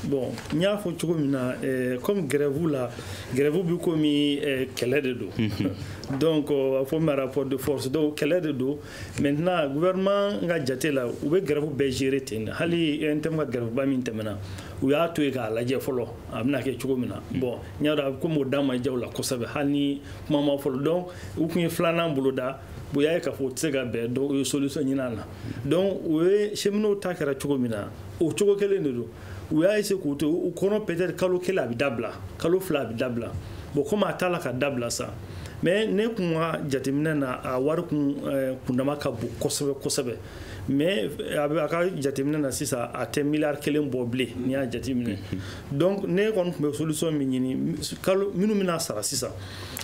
bon n y'a fɔ cogo min na euh, comme grève la grève bɛ komi euh, kɛlɛ de don hmm. donc a fɔ ma rapport de force donc kɛlɛ de don maintenant gouvernement ka jate la u bɛ gɛrɛfu bɛɛ gérer ten de hali UNTM ka gɛrɛfuba min tɛmɛna u y'a to yen k'a lajɛ fɔlɔ a bɛna kɛ cogo min na mm. bon n y'a dɔn a bɛ komi o da ma diya u la kosɛbɛ hali ni kuma ma fɔlɔ donc u tun ye filanan bolo da u y'a ye k'a fɔ u tɛ se ka bɛn donc u ye solution ɲini a la donc o ye cheminots ta kɛra cogo min na o cogo kelen de don u y'a essayer k'o to u kɔnɔ peut-être kalo kelen a bɛ dabila kalo fila a bɛ dabila bon komi a t'a la ka dabila sa mais ne kun ka jateminɛ na a wari kun eh, kundama ka bon kosɛbɛ kosɛbɛ mais eh, a bɛ a ka jateminɛ na sisan a tɛ miliyari kelen bɔ bilen n'i y'a jateminɛ donc ne kɔni tun bɛ solution min ɲini kalo minnu bɛna sara sisan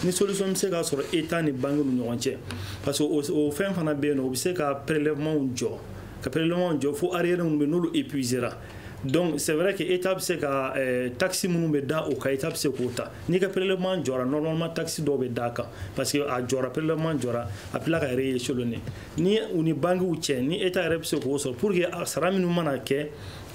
ni solution bɛ se ka sɔrɔ état ni banque ni ɲɔgɔn cɛ parce que o fɛn fana bɛ yen nɔ o bɛ se ka prélèvement jɔ ka prélèvement jɔ fo arriérés minnu bɛ n'olu épuisera donc c'est vrai que état bɛ se ka euh, taxe minnu bɛ da o kan état bɛ se k'o ta n'i ka prélèvement jɔra normalement taxe dɔw bɛ da a kan parce que a jɔra prélèvement jɔra a bɛ tila ka rééchelonner ni u ni bankiw cɛ ni état yɛrɛ bɛ se k'o sɔrɔ pour que a sara minnu mana kɛ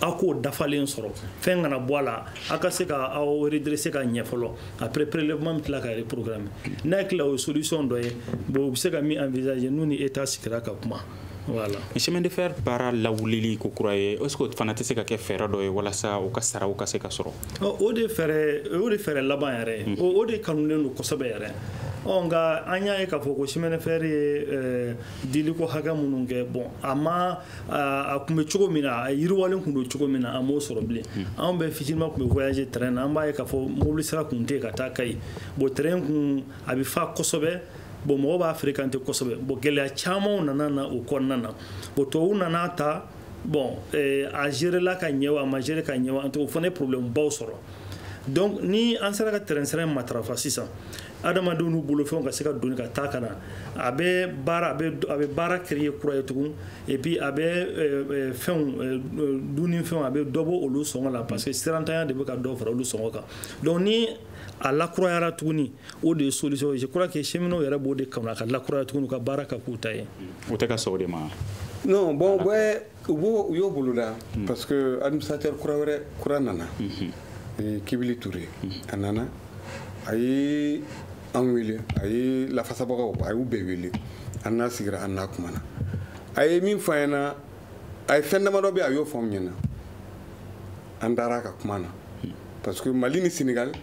aw k'o dafalen sɔrɔ fɛn kana bɔ a la aw ka se ka aw redresser ka ɲɛ fɔlɔ après prélèvement bɛ tila ka reprogrammer n'a tila o ye solution dɔ ye bon u bɛ se ka min envisager n'u ni état sigira ka kuma Voilà. Chemin de fer baara lawulili ko kura ye est-ce que o fana tɛ se ka kɛ fɛɛrɛ dɔ ye walasa u ka saraw ka se ka sɔrɔ o de fɛɛrɛ o de fɛɛrɛ laban yɛrɛ mm. o de kanulen don kosɛbɛ yɛrɛ ɔ nka an y'a ye k'a fɔ ko chemin de fer ye eh, diliko hakɛ minnu kɛ bon a ma a tun bɛ cogo min na a yiriwalen tun don cogo min na a m'o sɔrɔ bilen mm. anw bɛ fitininma tun bɛ voyager train na an b'a ye k'a fɔ mobili sira tun tɛ yen ka taa kayi bon train kun a bɛ fa kosɛbɛ bon mɔgɔ b'a fréquenter kosɛbɛ bon gɛlɛya camanw nana na o kɔnɔna na bon tubabuw nan'a ta bon eh, a gerela ka ɲɛ wa a ma gérer ka ɲɛ wa en tout o fana ye problème baw sɔrɔ donc ni an sera ka train sira matarafa sisan adamadenw n'u bolofɛnw ka se ka doni ka taa ka na a bɛ baara a bɛ baara créer kura ye tugun et puis a bɛ euh, euh, fɛnw euh, dunni fɛnw a bɛ dɔ bɔ olu sɔngɔ la parce que sirantanya de bɛ ka dɔ fara olu sɔngɔ kan donc ni a lakurayara tuguni o de ye solution je crois que cheminot yɛrɛ b'o de kanu a ka lakuraya tuguni u ka baara ka k'u ta ye o tɛ ka sɔn o de ma non bon bɛ u b'o u y'o boloda hmm. parce que administrateur kura wɛrɛ kura nana hmm. kibili ture hmm. a nana a ye an wele a ye lafasabagaw a y'u bɛɛ wele an n'a sigira an n'a kumana a ye min fɔ an ɲɛna a ye fɛn damadɔ bɛ a y'o fɔ anw ɲɛna an dar'a ka kuma na parce que mali ni senegal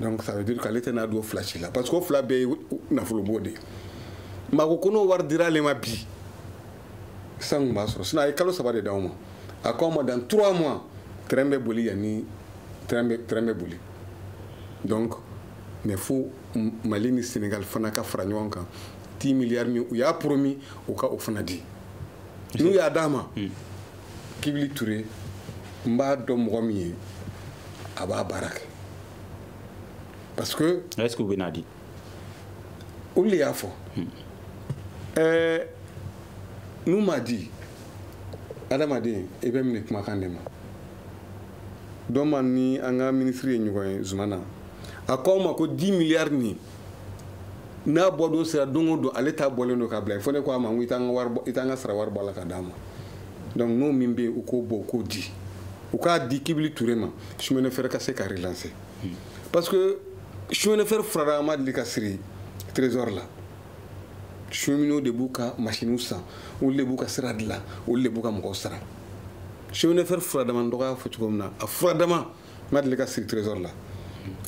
donc ça veut dire k'ale tɛna don fila si la parce que o fila bɛɛ ye nafolobɔ de ye mais a ko n'o wari dira ale ma bi san kun b'a sɔrɔ sinon a ye kalo saba de d'aw ma a ko an ma dans trois mois train bɛ boli yan ni train bɛ train bɛ boli donc mais fo mali ni senegal fana ka fara ɲɔgɔn kan dix milliards min u y'a promis u ka o fana di n'u y'a d'a ma hmm. kibili ture n b'a dɔn mɔgɔ min ye a b'a baara kɛ parce que est ce que u bɛn'a di olu de y'a fɔ ɛɛ n'u m'a di adamaden i bɛ minɛ kumakan de ma don min an ni an ka ministre ye ɲɔgɔn ye zumana a ko an ma ko 10 milliards nin n'a bɔdon sera don o don ale ta bɔlen don k'a bila fo ne ko a ma n ko i t'an ka wari bɔ i t'an ka sara wari bɔ a la k'a d'an ma donc n'o min bɛ yen u k'o bɔ u k'o di u k'a di kibili ture ma chemin de fer ka se ka relancer hmm. parce que chemin de fer furadama ma deli ka siri trésor la cheminots de b'u ka masiniw san olu de b'u ka sira dilan olu de b'u ka mɔgɔw sara chemin de fer furadama dɔgɔya fɔ cogo min na a furadama ma deli ka siri trésor la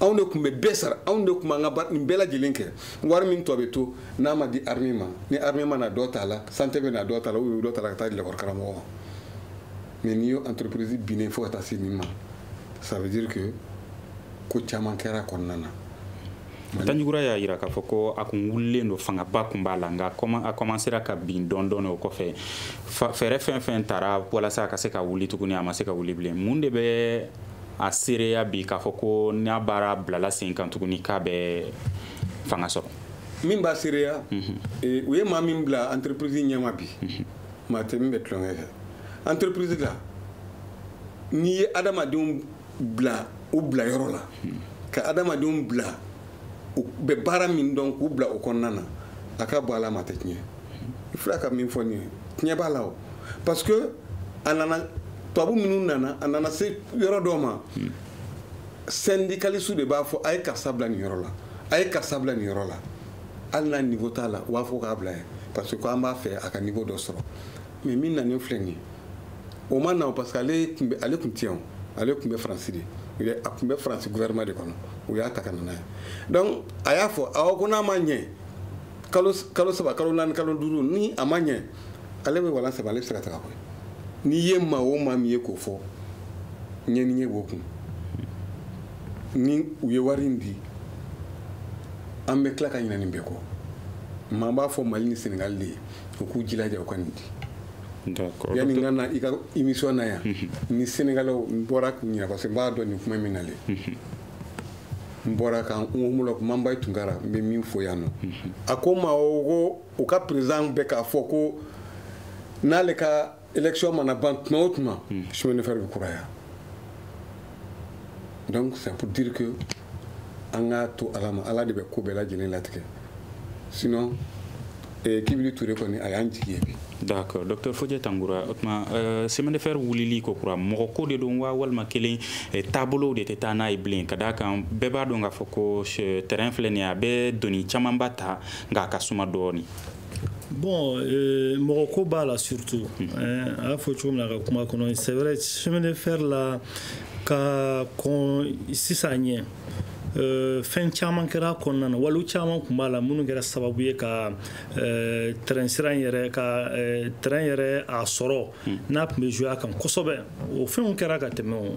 anw de tun bɛ bɛɛ sara anw de tun b'an ka nin bɛɛ lajɛlen kɛ wari min tɔ bɛ to n'a ma di armée ma ni armée ma na dɔ t'a la santé bɛ na dɔ t'a la ou dɔ t'a la ka taa di lakɔli karamɔgɔ ma mais n'i y'o entreprise binnen fo ka taa se nin ma ça veut dire que ko caman kɛra a kɔnɔna na tanjugura y'a jira k'a fɔ ko a kun wulilen don fangaba kun b'a la nka a kɔmansera ka bin dɔɔni dɔɔni o kɔfɛ fɛɛrɛ fɛn fɛn tara walasa a ka se ka wuli tuguni a ma se ka wuli bilen mun de bɛ a seereya bi k'a fɔ ko n'a baara bilala sen kan tuguni k'a bɛ fanga sɔrɔ min b'a seereya mhm. eh, u ye maa min bila entreprise ɲɛma bi mhm. maa tɛ min bɛ tulonkɛ kɛ entreprise la n'i ye adamadenw bila u bila yɔrɔ la ka adamadenw bila u bɛ baara min dɔn k'u bila o kɔnɔna na a ka bɔ ala ma tɛ tiɲɛ i filɛ ka min fɔ nin ye tiɲɛ b'a la o parce que a nana tubabu minnu nana a nana se yɔrɔ dɔ ma syndicalistew de b'a fɔ a ye karisa bila nin yɔrɔ la a ye karisa bila nin yɔrɔ la hali n'a niveau t'a la u b'a fɔ k'a bila yen parce que ko an b'a fɛ a ka niveau dɔ sɔrɔ mais min nanen filɛ nin ye o ma na parce que ale tun bɛ ale tun tɛ yan ale tun bɛ faransi de a tun bɛ faransi gouvernement de kɔnɔ u y'a ta ka na n'a ye donc a y'a fɔ awɔ ko n'a ma ɲɛ kalo kalo saba kalo naani kalo duuru ni a ma ɲɛ ale bɛ walan saba ale bɛ se ka taga koyi n'i ye maa o maa min ye k'o fɔ ɲɛ ni ɲɛ b'o kun ni u ye wari in di an bɛ tila ka ɲinɛ nin bɛɛ kɔ maa b'a fɔ mali ni senegali de ye u k'u jilaja u ka nin di yanni n ka na i ka émission na yan mhm. ni sénégalais n bɔra k'u ɲininka parce que n b'a dɔn nin kuma min nalen mhm. n bɔra ka n homologue manbayi tunkara n bɛ min fɔ yan nɔ mhm. a ko n ma ko u ka président bɛ k'a fɔ ko n'ale ka élection mana ban tuma o tuma hmm. chemin de fer bɛ kuraya donc c'est pour dire que an k'a to ala ma ala de bɛ ko bɛɛ lajɛlen latigɛ sinon eh, kibili ture kɔni a y'an jigi ye bi d'accord docteur fodje tangoura o tuma euh, chemin de fer wulili kokura mɔgɔ ko de don wa walima kelen eh, taabolow de tɛ taa n'a ye bilen ka d'a kan bɛɛ b'a dɔn k'a fɔ ko tɛrɛn filɛ nin ye a bɛ doni camanba ta nka a ka suma dɔɔni bon euh, mɔgɔ ko b'a la surtout hmm. euh, a y'a fɔ cogo min na a ka kuma kɔnɔ c'est vrai chemin de fer la ka kɔn sisan ɲɛ Euh, fɛn caman kɛra kɔnɔna na waliw caman tun b'a la minnu kɛra sababu ye ka euh, tɛrɛn sira yɛrɛ ka euh, tɛrɛn yɛrɛ a sɔrɔ hmm. n'a tun bɛ jouer a kan kosɛbɛ o fɛnw kɛra ka tɛmɛ o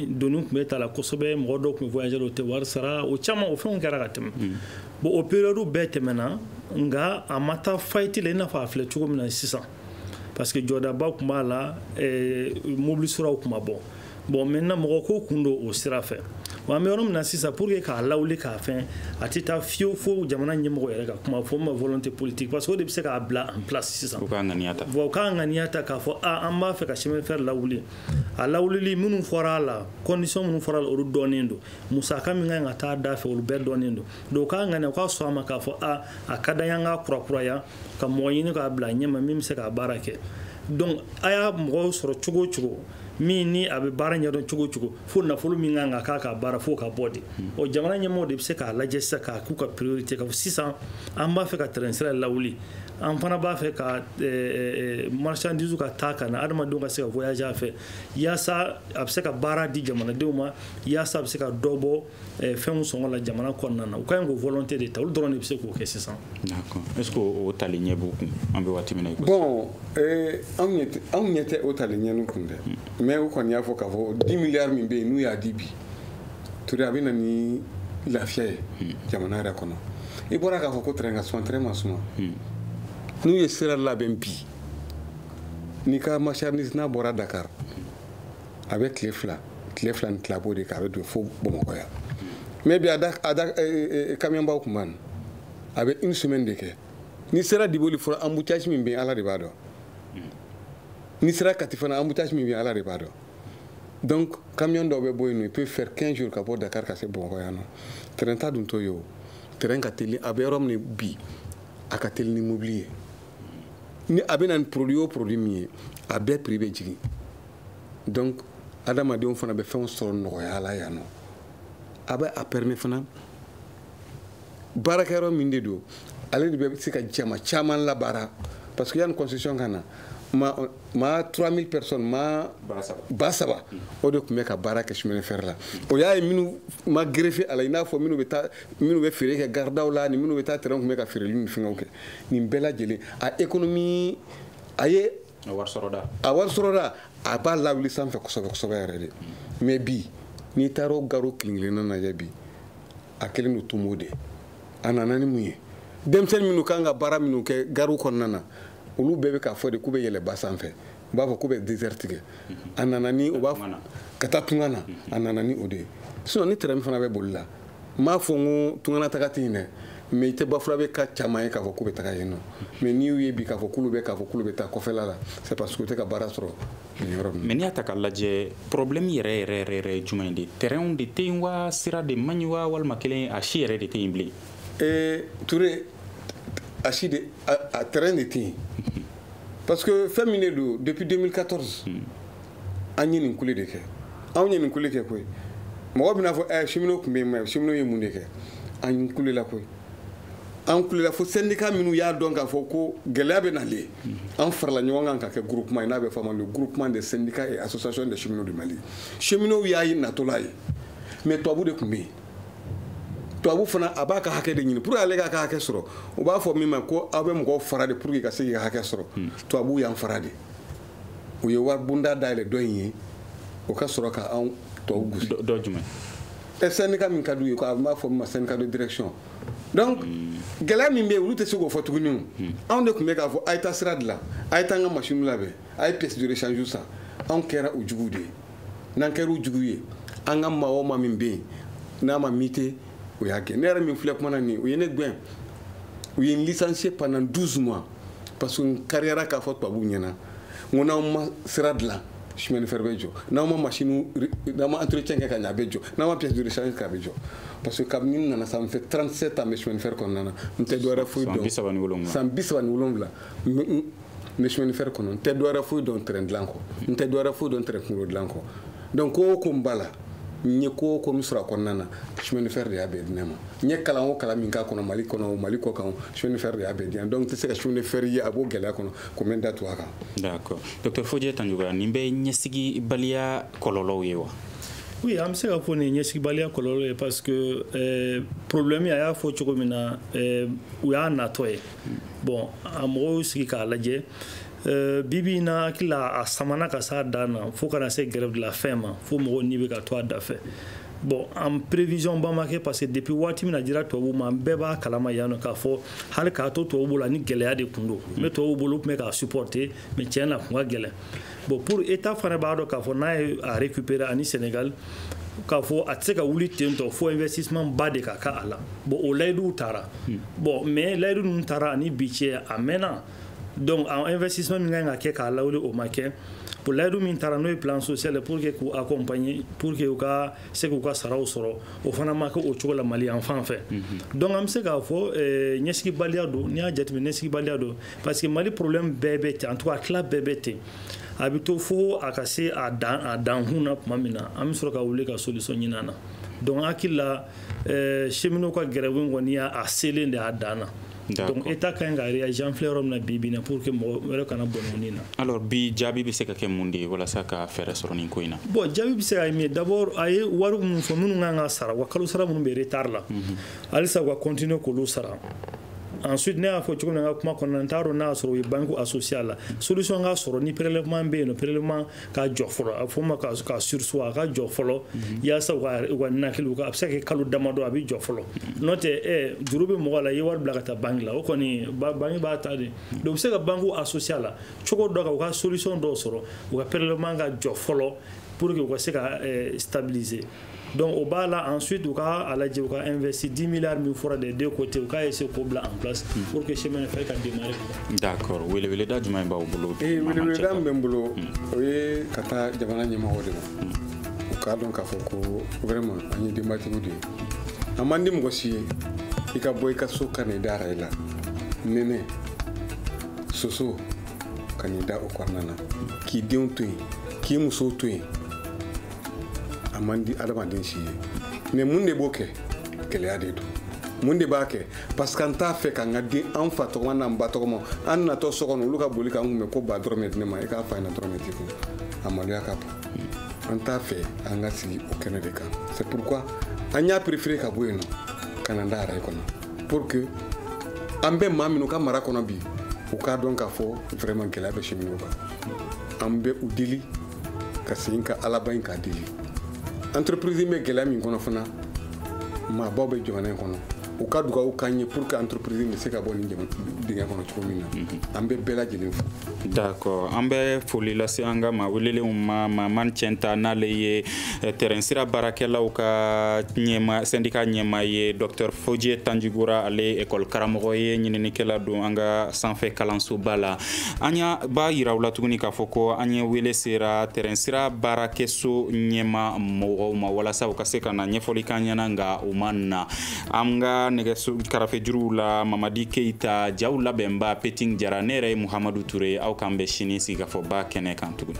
doni tun bɛ ta la kosɛbɛ mɔgɔ dɔw tun bɛ voyager o tɛ wari sara o caman o fɛnw kɛra ka tɛmɛ hmm. bon o période bɛɛ tɛmɛna nka a ma taa faillite la i n'a fɔ a filɛ cogo min na sisan parce que jɔdaba tun b'a la eh, mobili siraw tun ma bɔ bon maintenant mɔgɔ ko kun don o sira fɛ wa an bɛ yɔrɔ min na sisan pour que k'a lawuli k'a fɛn a tɛ taa fiyewu fo jamana ɲɛmɔgɔ yɛrɛ ka kuma fɔ ma volonté politique parce que o de bɛ se k'a bila en place sisan u k'a ŋaniya ta bon u k'a ŋaniya ta k'a fɔ a an b'a fɛ ka chemin de fer lawuli a lawulili minnu fɔra a la condition minnu fɔra a la olu dɔnnen don musaka min kan ka taa da fɛ olu bɛɛ dɔnnen don donc u k'a ŋaniya u ka sɔn a ma k'a fɔ a a ka d'an ye an k'a kurakuraya ka mɔgɔ ɲini k'a bila ɲɛma min bɛ se k'a baara kɛ donc a y'a mɔgɔw sɔrɔ cogo o cogo min ni a bɛ baara ɲɛdɔn cogo o cogo fo nafolo min kan ka k'a ka baara fo ka bɔ de o jamana ɲɛmɔgɔw de bɛ se k'a lajɛ sisan k'a k'u ka priorité k'a fɔ sisan an b'a fɛ ka train sira lawuli an fana b'a fɛ ka marchandise ka taa ka na adamadenw ka se ka voyager a fɛ yaasa a bɛ se ka baara di jamanadenw ma yaasa a bɛ se ka dɔ bɔ eh, fɛnw sɔngɔ la jamana kɔnɔna na u ka ɲi k'o volonté de ta olu dɔrɔn de bɛ se k'o kɛ sisan d'accord est ce que o tali ɲɛ b'u kun an bɛ waati min na bon eh, anw ɲɛ tɛ anw ɲɛ tɛ o tali ɲɛ n'u kun dɛ hmm. mais u kɔni y'a fɔ k'a fɔ 10 milliards min bɛ yen n'u y'a di bi ture a bɛ na ni lafiya ye hmm. jamana yɛrɛ kɔnɔ i bɔra k'a fɔ ko train ka suma train man suma hmm. n'u ye sira labɛn bi n'i ka marchandise n'a bɔra Dakar a bɛ tile fila tile fila ni tila b'o de kɛ a bɛ don fo bamakɔ yan mais bi a da a da kamiyɔnbaw tun b'an a bɛ une semaine de kɛ n'i sera diboli fɔlɔ embouteillage min bɛ yen ala de b'a dɔn n'i sera kati fana embouteillage min bɛ yen ala de b'a dɔn donc camion dɔw bɛ bɔ yen nɔ il peut faire 15 jours ka bɔ dakar ka se bamakɔ yan nɔ train ta dun t'o ye o train ka teli an bɛ yɔrɔ min bi a ka teli ni mobili ye ni a bɛ na ni produit o produit min ye a bɛɛ prix bɛ jigin donc adamadenw fana bɛ fɛnw sɔrɔ nɔgɔya la yan nɔ a bɛ a permet fana baarakɛyɔrɔ min de don ale de bɛ se ka jama caman labaara parce que yanni concession ka na maa maa 3000 personnes maa ba saba o de tun bɛ ka baara kɛ chemin de fer la o y'a ye minnu ma greffer a la i n'a fɔ minnu bɛ taa minnu bɛ feere kɛ garidaw la ni minnu bɛ taa train tun bɛ ka feereli ni fɛngɛw kɛ nin bɛɛ lajɛlen a économie a ye a wari sɔrɔda a wari sɔrɔda a b'a lawuli sanfɛ kosɛbɛ kosɛbɛ yɛrɛ de mais bi n'i taara o gariw kelen-kelenna lajɛ bi a kɛlen don tomo de a nana ni mun ye denmisɛnni minnu kan ka baara minnu kɛ gariw kɔnɔna na olu bɛɛ bɛ k'a fɔ de k'u bɛ yɛlɛ ba sanfɛ u b'a fɔ k'u bɛ désert tigɛ a nana ni u b'a ka taa tunga na a nana ni o de ye sinon ni train fana bɛ boli la n b'a fɔ n ko tungana taga tɛ yen dɛ mais i tɛ bafulabɛka caman ye k'a fɔ k'u bɛ taga yen nɔ mais n'i y'u ye bi k'a fɔ k'olu bɛ k'a fɔ k'olu bɛ taa kɔfɛla la c'est parce que u tɛ ka baara sɔrɔ nin yɔrɔ ninnu mais n'i y'a ta k'a lajɛ problème yɛrɛ yɛrɛ yɛrɛ yɛrɛ ye jumɛn ye de train de tɛ yen wa sira de man ɲi wa walima kelen a si yɛrɛ de tɛ yen bilen ee ture a si de a train de tɛ yen parce que fɛn min de don depuis 2014 hmm. an ye nin kule de kɛ anw ye nin kule kɛ koyi mɔgɔ bɛna fɔ ɛ cheminot tun bɛ yen mais cheminot ye mun de kɛ an kulela koyi an kulela fo syndicat minnu y'a dɔn k'a fɔ ko gɛlɛya bɛ nalen an farala ɲɔgɔn kan ka kɛ groupement ye n'a bɛ fɔ ma le groupement des syndicats et associations des cheminots du mali cheminots y'a ye natɔla ye mais tubabu de tun bɛ yen tubabu fana a b'a ka hakɛ de ɲini pour que ale k'a ka hakɛ sɔrɔ u b'a fɔ min ma ko aw bɛ mɔgɔw fara de pour que ka se k'i ka hakɛ sɔrɔ tubabu y'an fara de u ye wari bunda dayɛlɛ dɔ in ye o ka sɔrɔ ka anw tɔw gosi dɔ jumɛn ɛ syndicat min ka di u ye ko a b'a fɔ min ma syndicat de direction donc gɛlɛya min bɛ yen olu tɛ se k'o fɔ tuguni o hmm. anw de tun bɛ k'a fɔ a ye taa sira dilan a ye taa an ka masiniw labɛn a ye pièce de rechange san anw kɛra u juguw de ye n'an kɛra u juguw ye an ka maa o maa min bɛ yen n'a ma muter o y'a gɛn ne yɛrɛ min filɛ kuma na nin u ye ne gɛn u ye n licencier pendant 12 mois parce que n kariyara k'a fɔ tubabuw ɲɛ na n ko n'aw ma sira dilan chemin de fer bɛ jɔ n'aw ma machine n'aw ma entretien kɛ ka ɲɛ a bɛ jɔ n'aw ma pièce de rechange kɛ a bɛ jɔ parce que kabini n nana ça fait 37 ans n bɛ chemin de fer kɔnɔna na n tɛ dɔwɛrɛ foyi dɔn san bi saba ni wolonwula san bi saba ni wolonwula n bɛ chemin de fer kɔnɔ n tɛ dɔwɛrɛ foyi dɔn train dilan kɔ n tɛ dɔwɛrɛ foyi dɔn train kunkolo dilan kɔ donc ko o ko n b'a la n ye ko o ko min sɔrɔ a kɔnɔna na chemin de fer de y'a bɛɛ di ne ma n ye kalan o kalan min k'a kɔnɔ mali kɔnɔ o mali kɔ kan chemin de fer de y'a bɛɛ di yan donc n tɛ se ka chemin de fer ye a b'o gɛlɛya kɔnɔ ko n bɛ n da tugu a kan. d'accord docteur fodié tandjigora nin bɛ ɲɛsigibaliya kɔlɔlɔw ye wa. oui an bɛ se k'a fɔ nin ɲɛsigibaliya kɔlɔlɔ ye parce que eh, problème a y'a fɔ cogo min na eh, u y'a natɔ ye bon a mɔgɔw sigi k'a lajɛ Euh, bi bi na hakili la a samana ka s'a dan na fo ka na se grève de la faim ma fo mɔgɔw ni bɛ ka to a dafɛ bon en prévision ba ma kɛ parce que depuis waati min n'a dira tubabu ma an bɛɛ b'a kalama yan nɔ k'a fɔ hali k'a to tubabu bolo a ni gɛlɛya de tun don mais tubabu bolo tun bɛ k'a supporter mais tiɲɛ na a tun ka gɛlɛn bon pour état fana b'a dɔn k'a fɔ n'a ye a récupérer ani sénégal k'a fɔ a tɛ se ka wuli ten tɔ fo investissement ba de ka k'a la bon o layiduw tara hmm. bon mais layidu ninnu tara ani bi cɛ a mɛnna donc a investissement min ka kan ka kɛ k'a lawuli o ma kɛ pour layidu min tara n'o ye plan social pour que k'u accompagner pour que u ka se k'u ka saraw sɔrɔ o fana ma kɛ o cogo la mali yan fan fɛ donc an bɛ se k'a fɔ ɲɛsigibaliya don n'i y'a jateminɛ ɲɛsigibaliya don parce que mali problème bɛɛ bɛ ten en tout cas tila bɛɛ bɛ ten a bɛ to fo a ka se a dan a dankun na tuma min na an bɛ sɔrɔ ka wuli ka solution ɲini a na donc hakili la eh, cheminot ka grève in kɔni y'a a selen de a dan na donc état ka ɲi ka réagir an filɛ yɔrɔ min na bi bi na pour que mɔgɔ wɛrɛ kana bɔnɛ ni na alors bi jaabi bɛ se ka kɛ mun de ye walasa ka fɛɛrɛ sɔrɔ nin ko in na bon jaabi bɛ se ka kɛ min ye d'abord a ye wari minnu fɔ minnu kan ka sara wa kalo sara minnu bɛ retard la halisa u ka continuer k'olu sara ensuite ne y'a fɔ cogo min na n ka kuma kɔnɔna n t'a dɔn n'a y'a sɔrɔ u ye banque associée a la solution ka sɔrɔ ni prélèvement bɛ yen nɔ prélèvement ka jɔ fɔlɔ a bɛ fɔ o ma ka ka surseoir a ka jɔ fɔlɔ yaasa u ka u ka ninakiliw ka a bɛ se ka kɛ kalo damadɔ a bɛ jɔ fɔlɔ n'o tɛ ɛ juru bɛ mɔgɔ la i ye wari bila ka taa banque la o kɔni ba- banque b'a ta de donc u bɛ se ka banque associer a la cogo dɔ kan u ka solution dɔw sɔrɔ u ka prélèvement ka jɔ fɔlɔ pour que u ka se ka eh, stabiliser donc o b'a la ensuite u ka a lajɛ u ka investir 10 milliards min fɔra des deux côtés u k'a essayer k'o bila en place hmm. pour que chemin de fer ka démarrer d'accord weleweleda jumɛn b'aw bolo ee weleweleda min bɛ n bolo hmm. o ye ka taa jamana ɲɛmɔgɔw de ma hmm. u k'a dɔn k'a fɔ ko vraiment an ye denbatigiw de ye a man di mɔgɔ si ye i ka bɔ i ka so ka n'i da araye la nɛnɛ soso ka n'i da o kɔnɔna na k'i denw to yen k'i musow to yen a man di adamaden si ye mais mun de b'o kɛ gɛlɛya de don mun de b'a kɛ parce que an t'a fɛ k'an ka den an fa tɔgɔma n'an ba tɔgɔma an natɔ so kɔnɔ olu ka boli k'an kunbɛn ko ba dɔrɔmɛ di ne ma i k'a f'a ɲɛna dɔrɔmɛ t'i kun a maloya ka bon an t'a fɛ an ka sigi o kɛnɛ de kan c'est pourquoi an y'a préféré ka bɔ yen nɔ ka n'an da araye kɔnɔ pour que an bɛ maa minnu ka mara kɔnɔ bi u k'a dɔn k'a fɔ vraiment gɛlɛya bɛ cheminot kan an bɛ u deli ka segin ka alaba in k'a deli entreprise bɛ gɛlɛya min kɔnɔ fana maabaw bɛ jamana in kɔnɔ u ka dugawu k'an ye pour que entreprise bɛ se ka bɔ nin dingɛ kɔnɔ cogo min na mhm. an bɛ bɛɛ lajɛlen fo d'accord an bɛ foli lase an ka maa welelenw ma maman cɛnta n'ale ye eh, tɛrɛnsira baarakɛlaw ka ɲɛma sɛndika ɲɛmaa ye docteur foje tanjigora ale ye école karamɔgɔ ye ɲininikɛla don an ka sanfɛ kalansoba la an y'a b'a yira aw la tuguni k'a fɔ ko an ye wele sera tɛrɛnsira baarakɛso ɲɛma mɔgɔw ma walasa u ka se ka na ɲɛfɔli k'an ɲɛna nka u ma na an ka nɛgɛso karafejuruw la mamadi keyita jaw labɛnba peting jara ne yɛrɛ ye muhamadu ture aw k'an bɛn sini sigikafɔba kɛnɛ kan tuguni